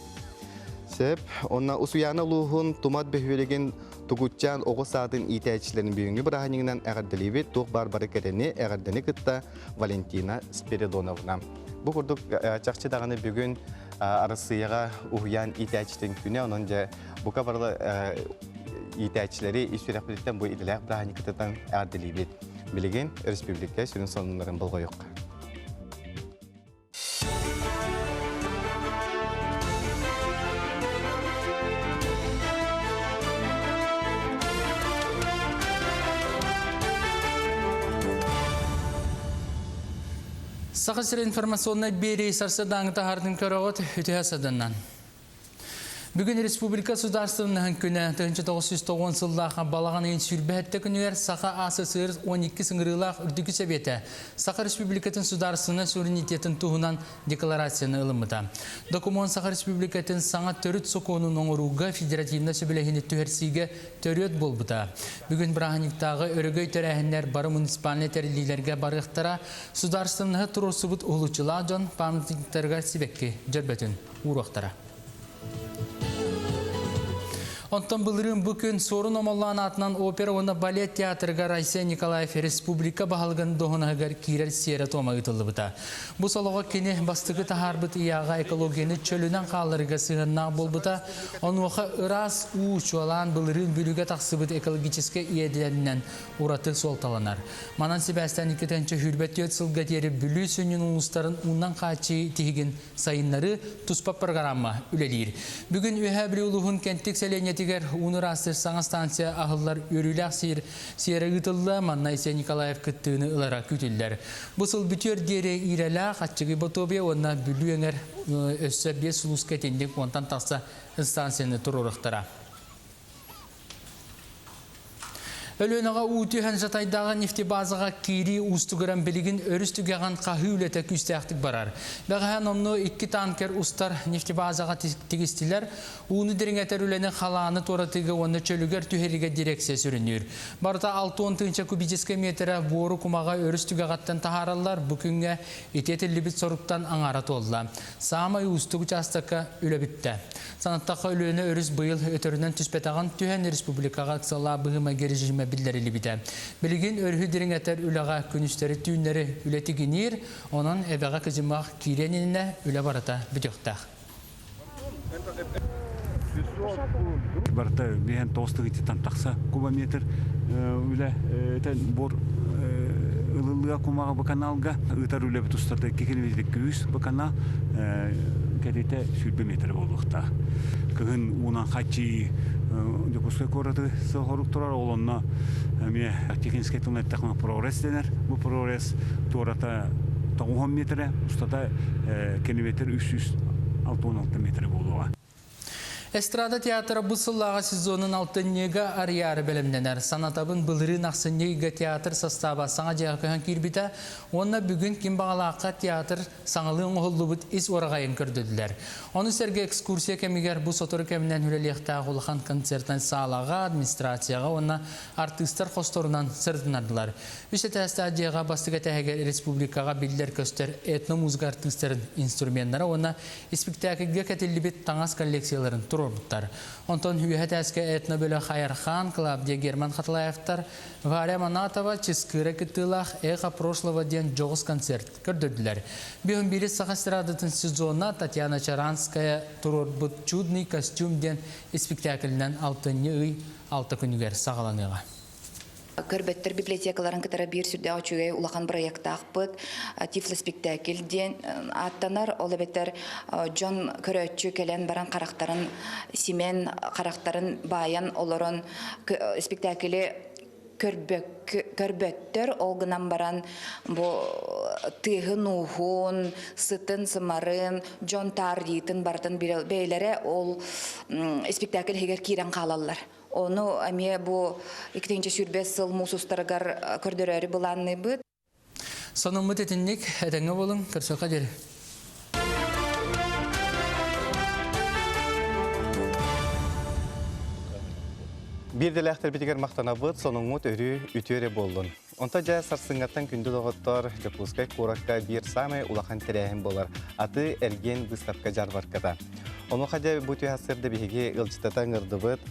Сөп. Онна Усуйаана улууһун Тумат бөһүөлэгин Тугутчаан оҕо саатын иитээччилэрин бүгүҥҥү бырааһынньыгынан эҕэрдэлиибит туох баар бары кэтэни, эҕэрдэни кытта Валентина Спиридоновна. Бу курдук э, чахчы даҕаны бүгүн э, Арассыыйаҕа уһуйаан иитээччитин күнэ, онон дьэ бука бары э, иитээччилэри ис сүрэхпититтэн бу идэлээх бырааһынньыкытыттан эҕэрдэлиибит. Билигин өрөспүүбүлүкэ сүрүн сонуннарын болҕойуохха. Саха сирин информационнай биэрии сарсыардааҥы таһаардын көрөҕүт үтүһэ сыдыннан. Бүгүн Республика Судаарыстыбыннаһын күнэ 1909 сыллаах балаҕан ыйын сүүрбэһэтте күнүгэр Саха АССР 12 сыҥырыылаах Үрдүкү Сэбиэтэ Саха Республикатын судаарыстыбна суверенитетин туһунан декларацияны ылыммыта. Докумуон Саха Республикатын саҥа төрүт сокуонун оҥорууга федеративнай сөбүлэһиини түһэрсиигэ төрүөт буолбута. Бүгүн бырааһынньыктааҕы өрөгөй тэрээһиннэр бары муниципальнай тэриллиилэргэ барыахтара судаарыстыбнаһы туруорсубут уһулуччулаах дьон памятниктарыгар сибэкки дьөрбөтүн ууруохтара. Онтон былырыын бу күн Суорун Омоллоон аатынан опера уонна балет театрыгар Айсен Николаев республика баһылыгын доһунаһыгар киирэр сиэрэ-туома ыытыллыбыта. Бу солого кини бастакы таһаарбыт ийаҕа экологияны чөлүнэн хаалларыыга сыһыаннаах буолбута. Онуоха ыраас уу, чуолаан былырыын бүлүүгэ тахсыбыт экологическай иэдэнинэн ураты суолталанар. Манан сибээстээн иккитэн сүүрбэ түөрт сылга диэри Бүлүү сүнньүн улуустарын уунан хааччыы тиһигин Сайыннары туспа программа үлэлиир. Бүгүн Үөһээ Бүлүү улууһун Кэнтик сэлиэнньэтигэр ууну ыраастыыр саҥа станция аһыллар үөрүүлээх сиир сиэрэ ыытылла, манна Айсен Николаев кыттыыны ылара күүтүллэр. Бу сыл бүтүөр диэри Иирэлээх, Аччыгый Ботуобуйа уонна Бүлүү эҥэр өссө биэс сулууска итинник уонтан тахса станцияны туруоруохтара. Өлүөнэҕэ уу түһэн жатайдааҕы нефтебазаҕа киирии уустугуран билигин өрүс түгэҕин хаһыы үлэтэ күүстээхтик барар. Бэҕэһээн онно икки танкер устар нефтебазаҕа тигистилэр. Ууну дириҥэтэр үлэни халааны туоратыыга уонна чөлүгэр түһэриигэ дирэксия сүрүнүүр. Барыта 6 тыынча кубическай метрэ буору кумаҕа өрүс түгэҕиттэн таһаараллар. Бу күҥҥэ ити этиллибит соруктан аҥаара туолла. Саамай уустук учаастакка үлэ бүттэ. Санаттахха, Өлүөнэ өрүс быйыл өтөрүнэн түспэтэҕин түһэн, республикаҕа ыксаллаах быһыымайга режимэ биллэриллибитэ. Билигин өрүһү дириҥэтэр үлэҕэ күнүстэри-түүннэри үлэ тигиниир, онон эбэҕэ кыдьымах киириэн иннинэ үлэ барыта бүтүөхтээх. Барыта биһэн тоҕус тыгыйтыттан тахса кубометр үлэ буор ылылыа кумаҕы быканаалга ыытар үлэбит устата икки километр үс быканаа кэтитэ сүүрбэ метрэ буолуохтаах. Кыһын уунан хаччыы Дьокуускай куораты соҕорук турар, ол онно эмиэ Тихвинскэй тылынан эттэххинэ Прорез дэнэр. Бу Прорез туората тоҕуһан метрэ, устата километр үс сүүс алта уон алта метрэ буолуоҕа. Эстрада театра бу сыллааҕы сезонун алтынньыга арыйаары бэлэмнэнэр. Санатабын, былырыын ахсынньы ыйга театр састааба саҥа дьиэҕэ көһөн киирбитэ уонна бүгүн ким баҕалаахха театр Саҥалыы оҥоһуллубут ис уораҕайын көрдөрдүлэр. Ону сэргэ экскурсия кэмигэр бу сотору кэминэн үлэлиэхтээх улахан концертнай саалаҕа, администрацияҕа уонна артыыстар хосторунан сырытыннардылар. Үс этээстээх дьиэҕэ бастакы этээһигэр республикаҕа биллэр-көстөр этномузыка артыыстарын инструменнара уонна испиктээкилгэ кэтиллибит таҥас коллекцияларын туруорбуттар. Онтон үөһэ этээскэ этнобөлөх Айархан, Клавдия Герман Хатылаевтар, Варя Манатова, Чыскыыра кыттыылаах Эхо прошлого диэн дьоҕус концерт Көрдөрдүлэр. Бүгүн биир саха эстрадатын сезона Татьяна Чаранская туруорбут Чудный костюм диэн испиктээкилинэн алтынньы ый алта күнүгэр саҕаланыаҕа. Көрбөттөр библиотекаларын кытары биир сүрдээх үчүгэй улахан бырайыактаахпыт Тифлоспектакль диэн ааттанар ол эбэтэр дьон көрөөччү кэлэн баран харахтарын симэн харахтарын баайан олорон спектакли көрбөттөр ол гынан баран бу тыаһын-ууһун, сытын-сымарын, дьон таарыйыытын барытын бэйэлэрэ ол спектакль иһигэр киирэн хаалаллар. Ону эмиэ бу икитинчи сүүрбэ сыл муус устарыгар көрдөрөөрү былаанныыбыт. Сонуммут итинник, этэҥҥэ буолуҥ, көрсүөххэ диэри. Биирдэлээхтэрбитигэр махтанабыт, сонуҥҥут өрүү үтүө эрэ буоллун. Онто дьэ сарсыҥҥаттан күндү доҕоттор, Дьокуускай куоракка биир саамай улахан тэрээһин буолар аты эргиэн быыстапка-дьаарбарката. Онуоха дьэ бу түһ сырда биһиги ыалдьыттата ыҥырдыбыт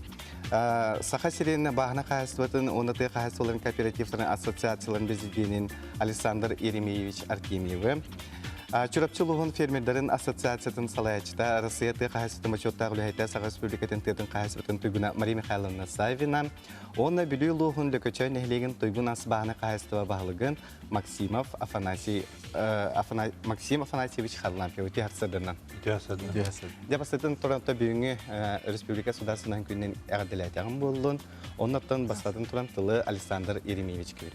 Саха сирин бааһына хаһаайыстыбатын уонна тыа хаһаайыстыбаларын кооперативтарын ассоциацияларын президенин Александр Еремеевич Артемьевы, Чурапчы улууһун фермердарын ассоциациятын салайааччыта, Арассыыйа тыа хаһаайыстыбатын бочуоттаах үлэһитэ, Саха Республикатын тыатын хаһаайыстыбатын туйгуна Мария Михайловна Савина уонна Бүлүү улууһун Лөкөчөй нэһилиэгин туйгун ас бааһына хаһаайыстыба баһылыгын Максимов Афанасий Афана, Максим Афанасьевич Харлампьев үтүө хардсадынан. Үтүө хардсадынан. Дьэ бастатан Торонто бүгүҥҥү республика судаарыстыбатын күнүнэн эҕэрдэлээтэҕим буоллун. Оннортон бастатан туран тылы Александр Еремеевич күүр.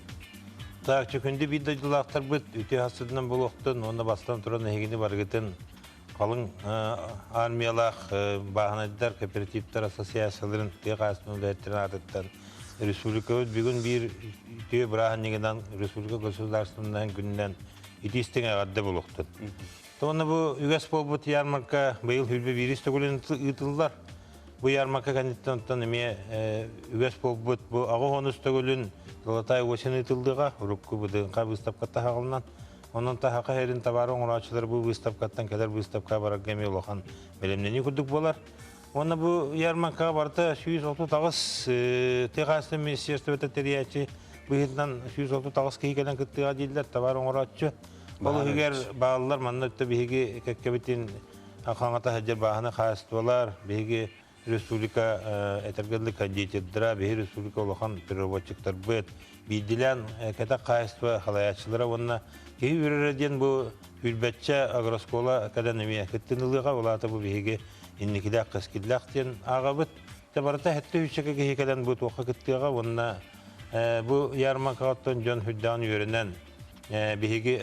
Так, күндү биир дойдулаахтарбыт үтүө хардсадынан буолуохтун уонна бастатан туран эһигини барыгытын Қалың армиялаах бааһынайдар, кооперативтар ассоциацияларын тыа хаастарын үлэһиттэрин аатыттан республикабыт бүгүн биир тыа бырааһынньыгынан республика государственнай күнүнэн ити истиҥ эҕэрдэ булуохтун. Туонна бу үгэс буолбут ярмарка быйыл хүрбэ биирис төгүлүн ыытыллар. Бу ярмарка кэнниттэн оттон эмиэ үгэс буолбут бу аҕы уонус төгүлүн Золотая осень ыытыллыга урукку быдыҥха быыстапка таһаҕалынан Онон таһака хэрин табары оҥорооччулар бу выставкаттан кэлэр выставка барарга эмиэ улахан бэлэмнэнии курдук буолар. Уонна бу ярмаркаҕа барыта сүүс отут аҕыс техаастан министерствота тэрийээччи быһыытынан сүүс отут аҕыс киһи кэлэн кыттыаҕа дииллэр табар оҥорооччу. Ол иһигэр бааллар манна өттө биһиги кэккэбитин хаҥата сылдьар бааһына хаастылар, биһиги республика этэргэ дылы деятельдара биһи республика улахан переводчиктарбыт биирдилээн кэтэх хаайыстыба халааччылара уонна киһи үрөрө диэн бу үрбэтчэ агроскола кадан эмиэ кыттын ылыаҕа улаата бу биһиги инникилээх кэскиллээх диэн аагабыт те барыта хэтте үччэкэ киһи кэлэн бу туохха кыттыаҕа уонна бу ярмаркаҕыттан дьон хүддэҕин үөрэнэн биһиги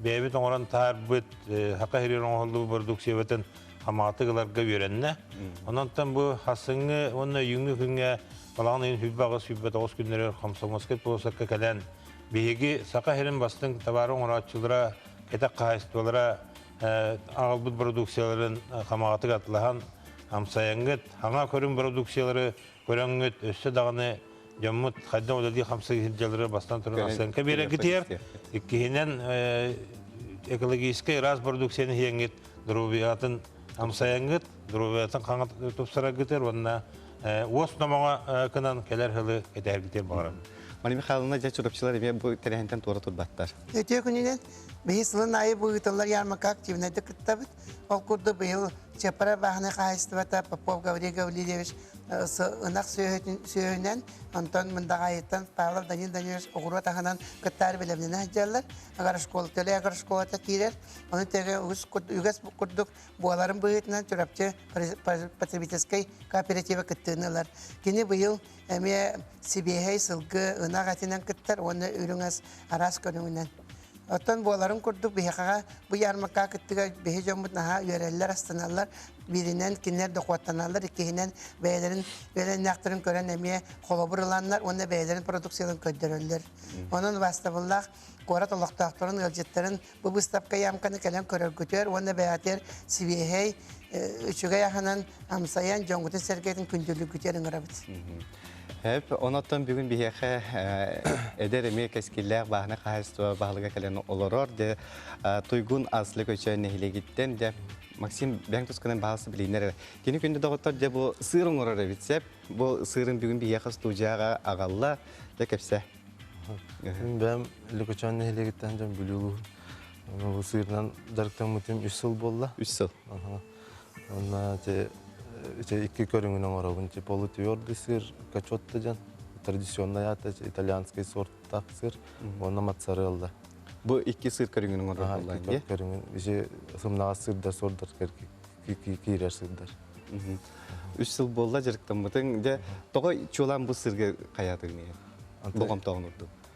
бэйэбит оҥорон таһаарбыт хака хириэр оҥоһуллубут продукциябытын амаҕатык ыларга үөрэннэ. Онон бу хасыңы уонна өйүҥҥү күҥҥэ балаҕан ыйын сүүрбэ аҕыс сүүрбэ тоҕус күннэригэр хомсоҥуоскай полосакка кэлэн биһиги Саха сирин бастыҥ табаары оҥорооччулара, кэтэх хаһаайыстыбалара аҕалбыт бородууксуйаларын хамаҕатык атлаһан, амсайаҥҥыт, хаҥа көрүҥ бородууксуйалары көрөҥҥүт өссө даҕаны дьоммут хайдах үлэлии хамсыы сылдьаллары бастан туран ахсаанка биэрэгитиэр. Иккиһинэн экологическай ыраас бородукцияны иһиэҥҥит доруобуйатын амсайаҥҥыт, доруобуйатын хаҥат тупсараргытыгар уонна уос номоҕо кынан кэлэр хылы кэтэргитиэр баҕарам. Мария Михайловна дьэ чурапчылар эмиэ бу тэрээһинтэн туора турбаттар. Үтүө күнүнэн биһи сылын аайы бу ыытыллар ярмарка активнайда кыттабыт. Ол курдук быйыл сепаровахное хаһайыстыбата Попов Гаврил Гаврильевич ынах сүөһүнэн, онтон Мындаҕайыттан Павлов Данил Данилович оҕуруот аһынан кыттаары бэлэмнэнэ сылдьаллар. Агарашкола, төлө агарашколата киирэр. Ону тэгэ үгэс курдук буоларын быһыытынан Чурапчы потребительскай кооператива кыттыынылар. Кини быйыл эмиэ сибиэһэй сылгы, ынах этинэн кыттар уонна үрүҥ ас араас көрүҥүнэн. Оттон буоларын курдук биһиэхэҕэ бу ярмарка кыттыга биһи дьоммут наһаа үөрэллэр, астаналлар. Бииринэн кинилэр дохуоттаналлар, иккиһинэн бэйэлэрин үөлэннээхтэрин көрөн эмиэ холобур ыланнар уонна бэйэлэрин продукцияларын көрдөрөллөр. Онон бастабыллаах куорат олохтоохторун, ыалдьыттарын бу быыстапка-ямканы кэлэн көрөргүтүөр уонна бэйэтигэр сибиэһэй, үчүгэй аһынан амсайан дьоҥҥутун сэргэтин күндүлүггүтүөр ыҥырабыт. Эп, онотон бүгүн биһиэхэ эдэр эмиэ кэскиллээх бааһынай хаһаайыстыба баһылыга кэлэн олорор. Дэ Туйгун Аслы Көчөөн нэһилиэгиттэн дэ Максим Бэҥ Тусканын баһасы билиннэр. Кини күндэ доҕоттор дэ бу сыр оңорор эбит сеп. Бу сырын бүгүн биһиэхэ студияга агалла дэ кепсе. Бэм Лөкөчөөн нэһилиэгиттэн дьон бүлүгү бу сырынан дарыктаммытым 3 сыл болла. 3 сыл. Уонна ити ити икки көрүҥүн оҥоробун. Ити полутьор десир, качотта дьон, традиционнай аата итальянскай сорттаах сыр уонна моцарелла. Бу икки сыр көрүҥүн оҥорор буоллаҥ икки көрүҥүн isi сымнаҕас сырдар сордор киирэр сырдар. Үс сыл буолла дьарыктаммытыҥ. Дьэ, тоҕо чуолаан бу сырга хайаатыгын боҕомтоҕун урдун?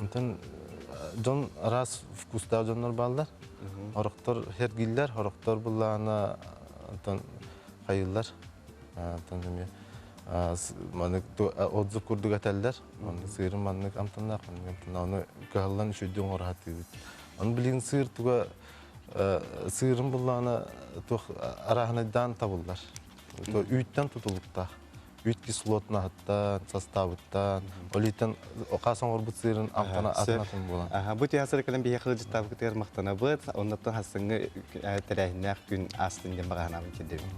Атын дьон араас вкустаах дьоннор бааллар. Орохтор хергиллэр, орохтор былаана атын хайылар. Атын эмиэ маннык отзыв курдук этэллэр. Маннык сыырын маннык амтаннаах амтаннаах кыһаллан үшүйдү оҥоро хатыыбыт. Ону билин сыыр туга сыырын буллаана туох араһынайдаан табыллар. Үүттэн тутулуктаах. бүт кислотнаһыттан, састаабыттан, олейтан хаас оҥорбут сыырын амтана атынатын буолан. Бу тыһа сыры кэлэн биһиэхэ дьыттаабыкытыгар махтанабыт. Оннуттан хассыҥҥы тэрээһиннээх күн астын диэн баҕаһынаабын кирдэбин.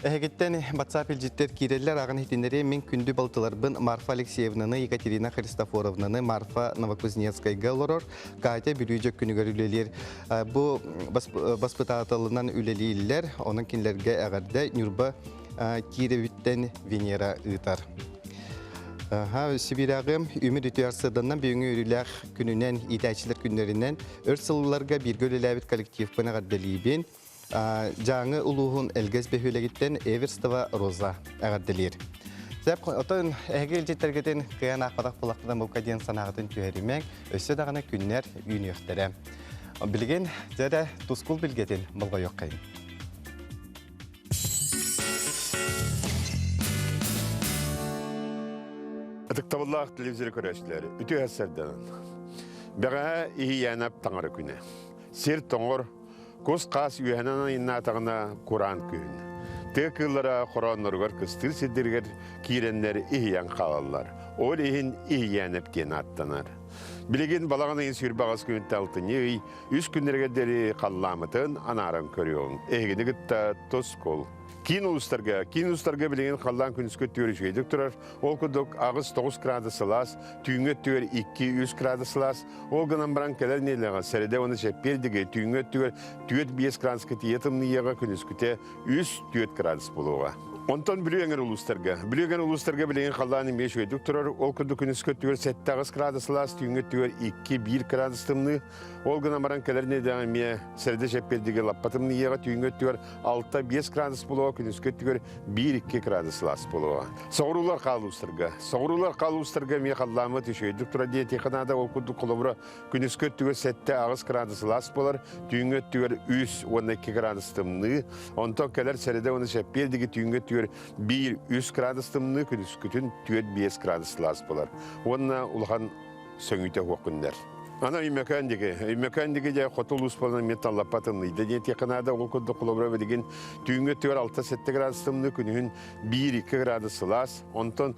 Эһигиттэн WhatsApp илдьиттэр киирэллэр аҕын иһитиннэриэ мин күндү балтыларбын Марфа Алексеевнаны, Екатерина Христофоровнаны, Марфа Новокузнецкайга олорор, Катя Бүрүүдьөк күнүгэр үлэлиир. Бу баспытааталынан үлэлииллэр, онон кинилэргэ эҕэрдэ Ньурба кииребиттэн Венера ыытар. Сибирягым үмүр үтүө сыданнан бүгүҥҥү үрүлээх күнүнэн, иитээччилэр күннэринэн өр сылларга бииргэ үлэлээбит коллективпын эҕэрдэлиибин. Дьааҥы улууһун Элгэс бөһүөлэгиттэн Эверстова Роза эҕэрдэлиир. Сэп отон эһиги илдьиттэргитин кыан аахпатах булахтана букка диэн санааҕытын түһэримэҥ, өссө даҕаны күннэр үүнүөхтэрэ. Билигин дьэ тускул билгэтин болҕойуоххайын. Ытыктабыллаах телевизор көрөөчүлэр, үтүө сэрдэнэн. Бэҕэһээ иһийээнап таҥара күнэ. Сир тоҥор, кус-хаас үөһэнэн айыннаатаҕына кураан күн. Тыа кыыллара хороонноругар кыстыыр сирдэригэр киирэннэр иһийэн хаалаллар. Ол иһин иһийээнэп киэн ааттанар. Билигин балаҕан ыйын сүүрбэҕэс күнүтэ алтынньы ый үс күннэригэр диэри халлаамытын анааран көрүөҥ. Эһигини кытта Тоскул. Киин улуустарга, киин улуустарга билигин халлаан күнүскэ түөр үчүгэйдик турар. Ол курдук аҕыс тоҕус градус сылаас, түүҥҥү түөр икки үс градус сылаас. Ол гынан баран кэлэр нейлэҕэ сэрэтэ уонна чэппиэр диги түүҥҥү түгэр түөрт биэс градуска тиийэ тымныйыаҕа күнүскүтэ үс-түөрт градус буолуоҕа. Онтон Бүлүү эҥэр улуустарга. Бүлүү эҥэр улуустарга билигин халлаан эмиэ үчүгэйдик турар. Ол курдук күнүс көттүгэр сэттэҕис градуслаах, түүҥҥү өттүгэр икки-биир градус тымныы. Ол гынан баран кэлэр нэдэҕэ эмиэ сэрдэ чэппиэрдигэ лаппа тымныйыаҕа, түүҥҥү өттүгэр алта-биэс градус буолуоҕа, күнүскү өттүгэр биир-икки градуслаах буолуоҕа. Соҕуруулар хаалуустарга. Соҕуруулар хаалуустарга эмиэ халлааммыт үчүгэйдик турар диэтиэхэ наада. Ол курдук холобура Күнүскү өттүгэр сэттэ аҕыс градус ылаас буолар, түүҥҥү өттүгэр үс уонна икки градус тымныы, онтон кэлэр сэрэдэ уонна сэппиэр диги түүҥҥү өттүгэр биир үс градус тымныы, күнүскүтүн түөрт биэс градус ылаас буолар. Уонна улахан сөҥүүтэ уох күннэр. Ана Үммөкөөн диги. Үммөкөөн диги же хоту улуус болынан мен таллаппа тынныйда диэтиэхэ наада ол курдук холобура билигин түүҥҥү өттүгэр 6-7 градус тымныы, күнүһүн 1-2 градус ылаас, онтон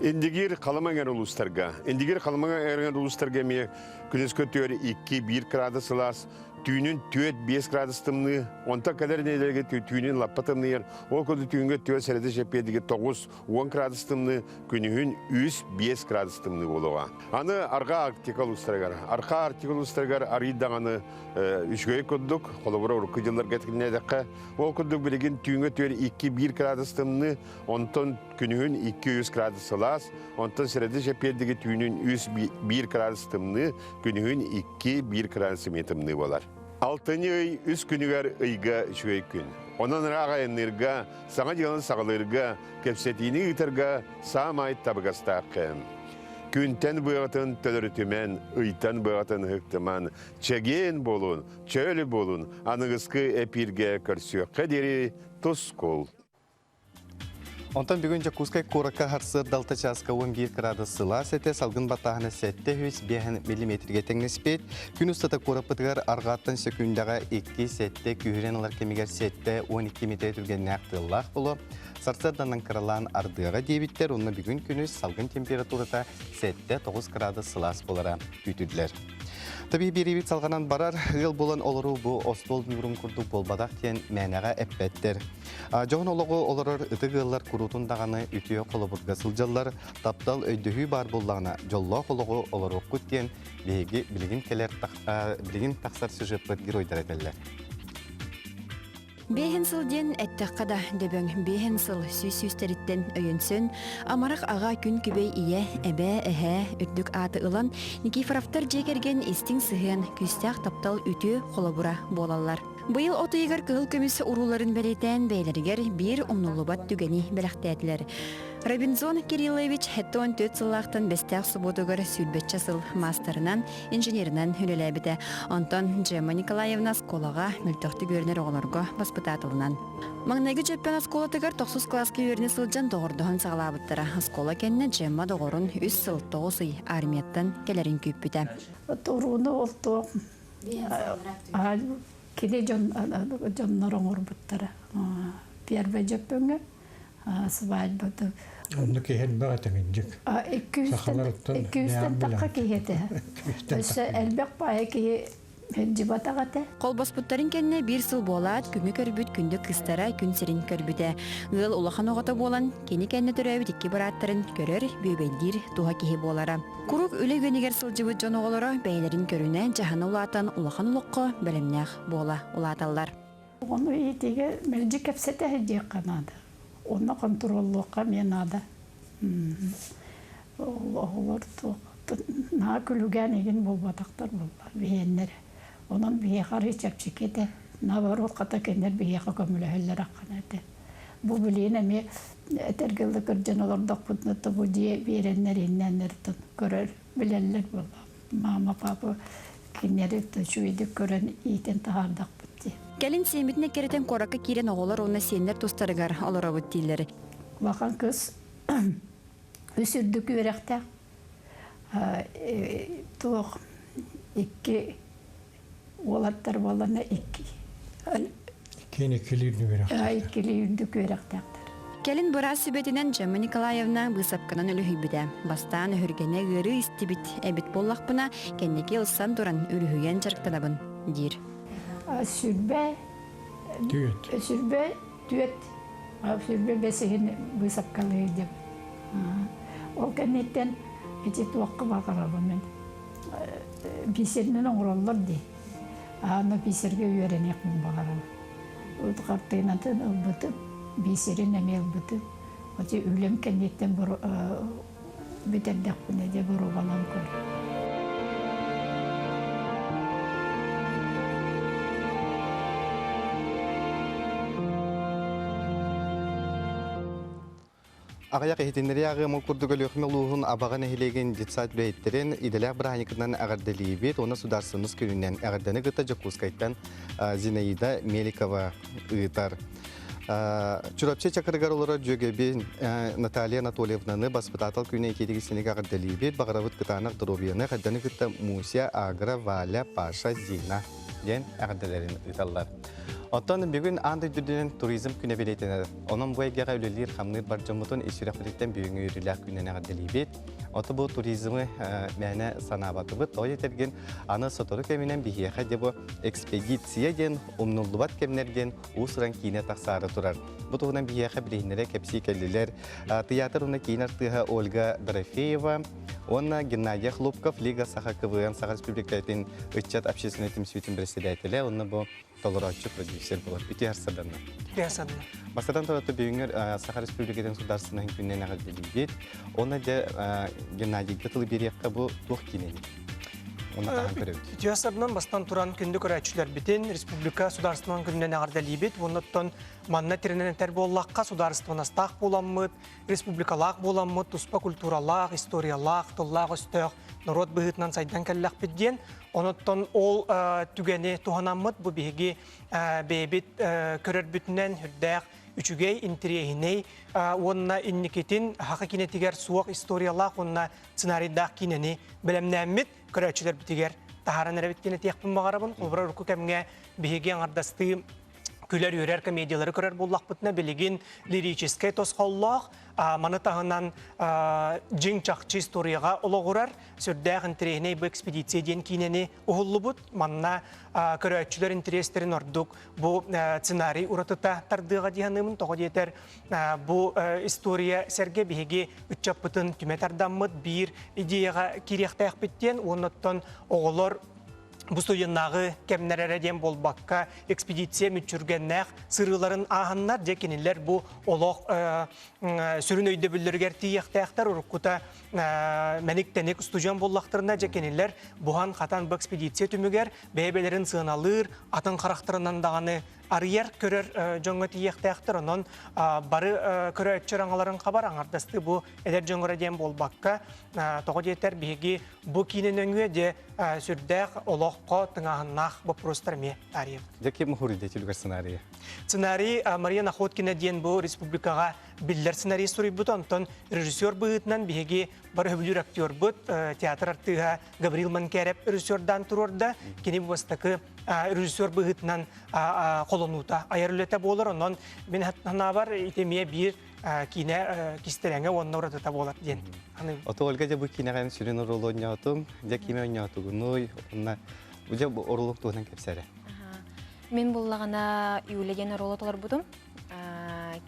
Индигир Халыма эҥэр улуустарга Индигир Халымаҥа эҥэр улуустарга эмиэ күнүс көтүөр 2-1 кыраадыс ылаас түүнүн 4-5 кыраадыс тымныы, онтон кэлэр нэдиэлэгэ түүнүн лаппа тымныйар, ол курдук түүнгэ түөрт сэрэтэ чэппиэтигэ 9-10 кыраадыс тымныы, күнүһүн 3-5 кыраадыс тымныы буолуоҕа. Аны арҕаа Арктика улуустарыгар, арҕаа Арктика улуустарыгар арый даҕаны үчүгэй курдук, холобура урукку дьылларга тикиннээдэххэ, ол курдук билигин түүнгэ түөр 2-1 кыраадыс тымныы, Онтон күнүһүн 200 градус сылаас, онтон средишэ пердиги түүнүн 101 градус тымныы, күнүһүн 2-1 градус эмиэ тымныы буолар. Алтынньы ый үс күнүгэр ыйга үчүгэй күн. Онон ыраах айанныырга, саҥа дьыаланы саҕалыырга, кэпсэтиини ыытарга саамай табыгастаах кэм. Күнтэн быаҕатын төлөрүтүмэн, ыйтан быаҕатын ыһыктыман, чэгиэн буолун, чөл буолун, аныгыскы эпииргэ көрсүөххэ диэри тускул. Онтон бүгүн Дьокуускай куоракка сарсыарда чааска уон биир кыраадыс сылаас этэ, салгын баттааһына сэттэ үс миллиметргэ тэҥнэспит. Күн устата куораппытыгар аргааттан сөкүүндэҕэ икки сэттэ күүһүрэн ылар кэмигэр сэттэ уон икки миэтэрэ түргэннээх тыаллаах буолуо. Сарсыарданан кыралаан ардыара диэбиттэр, онно бүгүн күнүс салгын температурата сэттэ тоҕус кыраадыс сылаас буолара күүтүллэр. Табиһи биэриибит салҕанан барар, ыал буолан олоруу бу остуол ньуурун курдук буолбатах диэн мээнэҕэ эппэттэр. Дьоһун олоҕу олорор ытык ыаллар куруутун даҕаны үтүө холобурга сылдьаллар, таптал, өйдөһүү баар буоллаҕына дьоллоох олоҕу олоруоххут диэн биһиги билигин кэлэр билигин тахсар сюжеппыт геройдара этэллэр. Биэһин сыл диэн эттэххэ да дөбөҥ биэһин сыл сүүс сүүстэриттэн өйөнсөн амарах аҕа күн күбэй ийэ эбээ эһээ үрдүк ааты ылан Никифоровтар дьиэ кэргэн истиҥ сыһыан күүстээх таптал үтүө холобура буолаллар. Быйыл от ыйыгар кыһыл көмүс урууларын бэлиэтээн бэйэлэригэр биир умнуллубат түгэни бэлэхтээтилэр. Робинзон Кириллович hetто он түөрт сыллаахтан бэстээх субуотугар сүүрбэччэ сыл маастарынан, инженеринэн үлэлээбитэ. Онтон Джема Николаевна оскуолаҕа мөлтөхтүк үөрэнэр оҕолорго баспытаатылынан. Маҥнайгы Дьөппөн оскуолатыгар тохсус кылааска үөрэнэ сылдьан доҕордоһон саҕалаабыттара. Оскуола кэннэ Джемма доҕорун үс сыл тоҕус ый армияттан кэлэрин күүппүтэ. Турууну бултуох кини дьон дьоннор оҥорбуттара первый дьөппөҥө свадьбата оннук иһэлбэх этэ миндьик сахаларыттан икки үстэн тахха киһи этэ өссө элбэх паайа киһи дьыбатах этэ холбоспуттарын кэннэ биир сыл буолаат күҥү көрбүт күндү кыстара күн сирин көрбүтэ ыал улахан оҕото буолан кини кэннэ төрөөбүт икки бырааттарын көрөр бүөбэйдиир туһа киһи буолара Куруук үлэ үгэнигэр сылдьыбыт дьон оҕолоро бэйэлэрин көрүнэн дьаһана улаатан улахан олоххо бэлэмнээх буола улааталлар. Оҕону иитиигэ мэлдьи кэпсэтэ диэххэ наада. Уонна хонтуруоллуохха эмиэ наада. Оҕолор наһаа күлүгээн игин буолбатахтар буолла биһиэннэрэ. Онон биһиэхэ арыы чэпчэки этэ. Наоборот, хата кинилэр биһиэхэ көмөлөһөллөр аххана этэ. Бу билиин эми этэргэ да кырдьан олордохпутуна тобу дьиэ биэрэннэр иннэннэртэн көрөр билэллэр буолла мама папа кинилэри чүүйдүк көрөн иитин таһаардахпыт дии кэлин сиэммитин эккирэтэн куоракка киирэн оҕолор уонна сиэннэр тустарыгар олоробут дииллэр улахан кыз үс үрдүк үөрэхтээх э, туох икки Уолаттар буолларна икки. Иккиэн иккилии үрдүк үөрэхтээхтэр. Иккилии үрдүк үөрэхтээхтэр. Кэлин быраас сүбэтинэн Джемма Николаевна быысапканан үлүһүйбүтэ. Бастаан өһүргэнэ ыарыы истибит эбит буоллахпына, кэнники ылсан туран үлүһүйэн дьарыктанабын, диир. Сүрбэ. Түөт. Сүрбэ түөрт сүүрбэ бэс иһин быысапкалыыр диэм ол кэнниттэн ити туохха баҕарабын мен бисеринэн оҥороллор дии аны бисергэ үөрэниэхпин баҕарабын хартыынатын ылбытым бисерин эмиэ ылбытым эти үлэм кэнниттэн Бүтэрдэхпинэ дьэ боруобалаан көр Аҕыйах иһитиннэрии ааҕыы омук курдук Өлүөхүмэ улууһун Абаҕа нэһилиэгин детсад үлэһиттэрин идэлээх бырааһынньыкынан эҕэрдэлиибит уонна судаарыстыбаннас күнүнэн эҕэрдэни кытта Дьокуускайтан Зинаида Меликова ыытар. Чурапчы Чакырыгар олорор дьүөгэбин Наталья Анатольевнаны баспытаатал күнэ икитиги синигэ эҕэрдэлиибит баҕарабыт кытаанах доруобуйаны хадданы кытта Муся, Агра, Валя, Паша, Зина диэн эҕэрдэлэрин ыыталлар. Оттон бүгүн аан дойдутунан туризм күнэ билетинэр. Онон бу эйгэҕэ үлэлиир хамныыр бар дьоммутун ис сүрэхпититтэн бүгүҥҥү үөрүүлээх күнүн эҕэрдэлиибит. Оту бу туризмы мээнэ санаабатыбыт. Той этэргин аны сотору кэминэн биһиэхэ де бу экспедиция диэн умнуллубат кэмнэрген уус-уран киинэ тахсаары турар. Бу туһунан биһиэхэ билиһиннэрэ кэпсии кэллилэр тыйаатыр уонна киин артыыһа Ольга Дорофеева уонна Геннадий Хлопков Лига саха КВН Саха Республикатын ыччат общественнай түмсүүтүн председателэ уонна бу толорооччу продюсер буолар. Үтүө харсаданна. Үтүө харсаданна. Бастатан турата бүгүҥҥэр Саха Республикатын судаарыстыбатын күннэн эҕэрдэлиибит. Онно дьэ Геннадийга тылы биэриэххэ бу туох киинэ эбит? Дьыаласабынан бастан туран күндү көрөөччүлэрбитин Республика Судаарыстыбанан күнүнэн эҕэрдэлиибит уонна оттон манна тирэнэн этэр буоллахха судаарыстыбанастаах буоламмыт, республикалаах буоламмыт туспа культуралаах, историялаах, тыллаах-өстөөх норуот быһыытынан сайдан кэллэхпит диэн. Оноттон ол э, түгэни туһанаммыт бу биһиги э, бэйэбит э, көрөрбүтүнэн үрдээх үчүгэй, интириэһинэй уонна инникитин Хаха киинэтигэр суох историялаах уонна сценарийдаах киинэни бэлэмнээммит, көрөөччүлэрбитигэр таһааран эрэбит киинэ этиэхпин баҕарабын. Холобура, урукку кэмҥэ биһиги аҥардастыы күлэр-үөрэр комедиялары көрөр буоллахпытына, билигин лирическэй тосхоллоох, маны таһынан дьиҥ-чахчы историяҕа олоҕурар сүрдээх интэриэһинэй бу экспедиция диэн киинэни уһуллубут. Манна көрөөччүлэр интэриэстэрин ордук бу сценарий уратыта тардыаҕа дии саныыбын. Тоҕо диэтэр, Бу история сэргэ биһиги ыччаппытын түмэ тардаммыт биир идеяҕа кириэхтээхпит диэн уоннаттан оҕолор бу суйуннааҕы кэмнэр эрэ диэн буолбакка экспедиция мүччүргэннээх сырыыларын ааһаннар дьэ кинилэр бу олох сүрүн өйдөбүллэригэр тиийиэхтээхтэр уруккута мэник-тэник устудьуон буллахтарына дьэ кинилэр буһан-хатан бу экспедиция түмүгэр бэйэ-бэлэрин сыаналыыр атын харахтарынан даҕаны арыйар-көрөр дьоҥҥо тиийиэхтээхтэр, онон бары көрөөччү аҥаларын хабар аҥардастыы бу эдэр дьоҥҥо диэн буолбакка, тоҕо диэтэр биһиги бу киинэ нөҥүө диэ сүрдээх олоххо тыҥааһыннаах боппуруостар эмиэ таарыйабыт. Дьэ, ким уһуруйда түлүгэр сценарийы? Сценарий Мария Находкина диэн бу республикаҕа биллэр сценарий суруйбута, онтон режиссер быһыытынан биһиги бары сөбүлүүр актербыт, театр артыыһа Гаврил Манкеров режиссердаан туруорда. Кини бастакы режиссер быһыытынан холонуута айар үлэтэ буолар. Онон мин санаабар ити эмиэ биир киинэ кистэлэҥэ уонна уратыта буолар диэн саныыбын. Оту Ольга дьэ бу киинэҕин сүрүн оролу онньоотум. Дьэ киимэ онньоотугунуй уонна дьэ бу оролук туһунан кэпсээрэ. Мин буллаҕына Юля диэн оруолу толорбутум.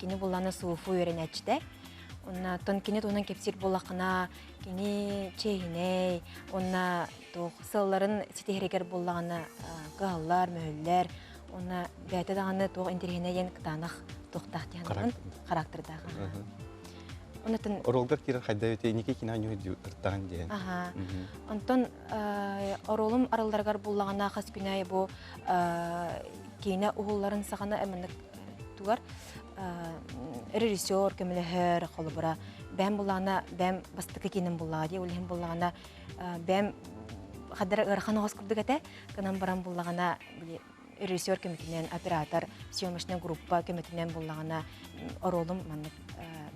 Кини буллана СУФУ үөрэнээччитэ. Онно кини туһунан кэпсиир буллаххына Кини чээһинэй, онна туох сылларын ситиһэригэр буллаҕына кыһаллар, мөһүллэр, онна бэйэтэ даҕаны туох интириэһинэй диэн кытаанах туохтаах диэн характердаах. Онтон оруолгар киирэн хайда өтө иники кино ньуйдуртаан диэн. Аха. Онтон оруолум аралларыгар буллаҕына хас күнэ бу киинэ уһулларын саҕана эминник тугар режиссер көмөлөһөр холобура бэм булаана бэм бастакы кииним буллаҕа дии ол иһин буллаҕана бэм хадара ыарахан оҕос курдук этэ кынан баран буллаҕана режиссер көмөтүнэн оператор съемочная группа көмөтүнэн буллаҕына оруолум маннык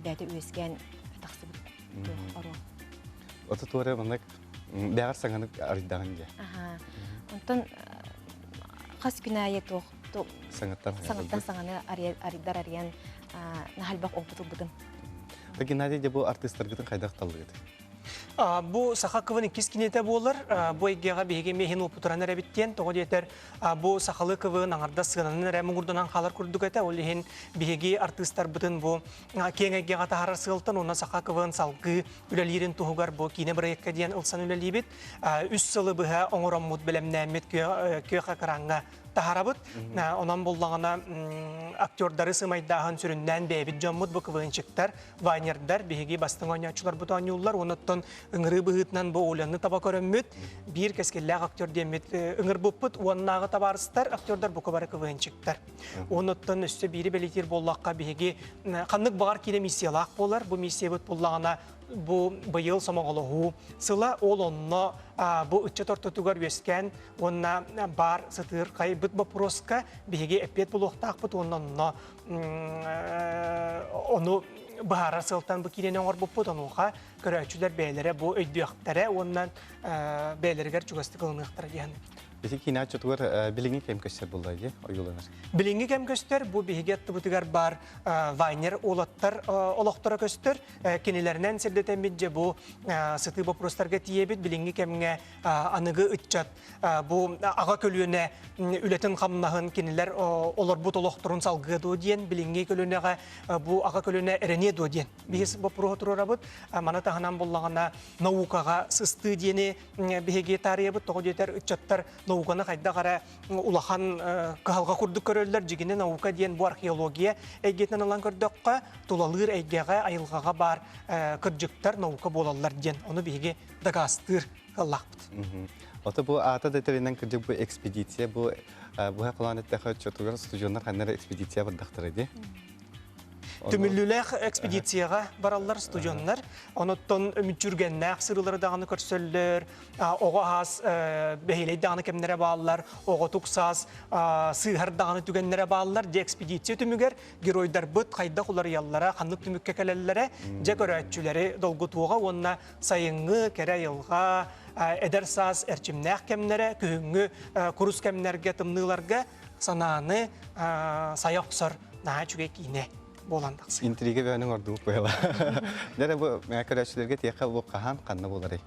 бэйэтэ үөскээн тахсыбыт оруол ототуоре маннык бэҕэр саҥаны арыйдаҕын дьэ онтон хас күн аайы туох саҥаттан саҥаны арыйдар арыйан наһальбах опыт ылбытым так геннадий де бу артыыстаргытын хайдах таллыгыт Бу саха кылын иккис киниэтэ буолар. Бу эйгэҕэ биһиги миэһин уопутуран эрэбит диэн. Тоҕо диэтэр, бу сахалыы кылын аҥардас сыананан эрэ муҥурданан хаалар курдук этэ. Ол иһин биһиги артыыстарбытын бу киэҥ эйгэҕэ таһаарар сыалтан уонна саха кылын салгыы үлэлиирин туһугар бу киинэ бырайыакка диэн ылсан үлэлиибит. Үс сылы быһа оҥороммут, бэлэмнээммит күөх экраҥҥа таһарабыт. Онон буллаҕына актердары сымайдааһын сүрүннээн бэйэбит дьоммут буквыынчыктар, вайнердар биһиги бастыҥ оонньооччуларбыт оонньууллар. Онуттан ыҥырыы быһыытынан бу Оляны таба көрөммүт. Биир кэскиллээх актер диэммит ыҥырбыппыт уоннааҕы табаарыстар актердар бука бары квыынчыктар. Онуттан өссө биири бэлитиир буоллахха биһиги ханнык баҕар киирэ миссиялаах буолар. Бу миссиябыт буллаҕына бу быйыл сомоҕолоһуу сыла ол онно бу ыччат ортотугар үөскээн Уонна баар сытыыр хайбыт боппуруоска биһиги эппиэт булуохтаахпыт уонна онно ону быһаарар сылтан бу киинэни оҥорбуппут онуоха көрөөччүлэр бэйэлэрэ бу өйдүөхтэрэ уонна бэйэлэригэр чугастык ылыныахтара диэн. Биһи киинэ оччотугар билиҥҥи кэм көстөр булла дии ойууланар. Билиҥҥи кэм көстөр бу биһиги аттыбытыгар бар Вайнер уолаттар олохторо көстөр. Кинилэринэн сирдэтэммит дьэ бу сытыы боппуруостарга тиийэбит билиҥҥи кэмҥэ аныгы ыччат бу аҕа көлүөнэ үлэтин-хамнаһын кинилэр олорбут олохторун салгыа дуо диэн билиҥҥи көлүөнэҕэ бу аҕа көлүөнэ эрэниэ дуо диэн биһиз боппуруоһу туруорабыт маны таһынан буллаҕына наукаҕа сыстыы диэни биһиги таарыйабыт тоҕо диэтэр ыччаттар науканы хайдах эрэ улахан кыһалҕа курдук көрөллөр дьигини наука диэн бу археология эйгэтинэн ылан көрдөххө тулалыыр эйгэҕэ айылҕаҕа баар кырдьыктар наука буолаллар диэн ону биһиги дагастыыр кыллахпыт. Ото бу аата да тэринэн кырдьык бу экспедиция бу быһа кылаан эттэхэ оччотугар студионнар ханнара экспедиция бардахтара ди. Түмүллүүлээх экспедицияға бараллар студионнар. Оноттон үмүтчүргеннээх сырылары даҕаны көрсөллөр. Оҕо ас бэһилей даҕаны кэмнэрэ бааллар. Оҕо туксас сыыһар даҕаны түгеннэрэ бааллар. Де экспедиция түмүгэр геройдарбыт хайдах уларыйаллара, ханнык түмүккэ кэлэллэрэ, дьэ көрөөччүлэри долгутуоҕа уонна Сайыҥҥы, кэрэ айылҕа, эдэр саас эрчимнээх кэмнэрэ күһүҥҥү курус кэмнэргэ, тымныыларга санааны сая охсор наһаа үчүгэй киинэ буолан тахсар. Интрига бэйэниҥ ордубут быйла. Дэрэ бу көрөөччүлэргэ тиэхэ лук хаһаан ханна булары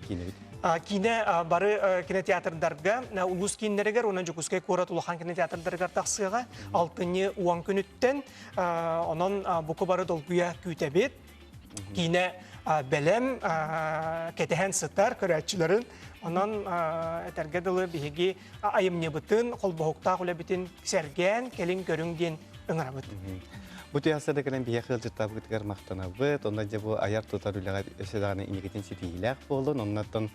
киинэбит? Киинэ бары кинотеатрдарга улуус кииннэригэр уонна Дьокуускай куорат улахан кинотеатрдарыгар тахсыаҕа алтынньы уон күнүттэн онон буку бары долгуйа күүтэбит киинэ бэлэм кэтэһэн сытар көрөөччүлэрин онон этэргэ дылы биһиги айымньыбытын холбоһуктаах үлэбитин сэргээн кэлин көрүҥ диэн ыҥырабыт Бу тыйаастарда кэлэн биһиэхэ ыалдьыттаабытыгар махтанабыт. Онно дьэ бу айар-тутар үлэҕэ өссө даҕаны инникитин ситиһиилээх буоллун. Оннуттан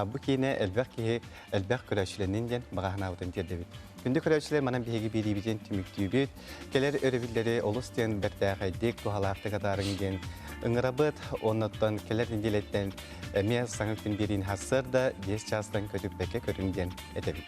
бу киинэ элбэх киһи, элбэх көрөөччүлэнин диэн баҕаһынаабытын тиэрдэбит. Күндү көрөөччүлэр манан биһиги биэриибитин түмүктүүбүт. Кэлэр өрөбүллэри олус диэн бэртээхэйдик, туһалаахтык атаарыҥ диэн ыҥырабыт. Оннуттан кэлэр нэдиэлэттэн эмиэ саҥа күн биэриин хассарда 10 чаастан көтүппэккэ көрүн диэн этэбит.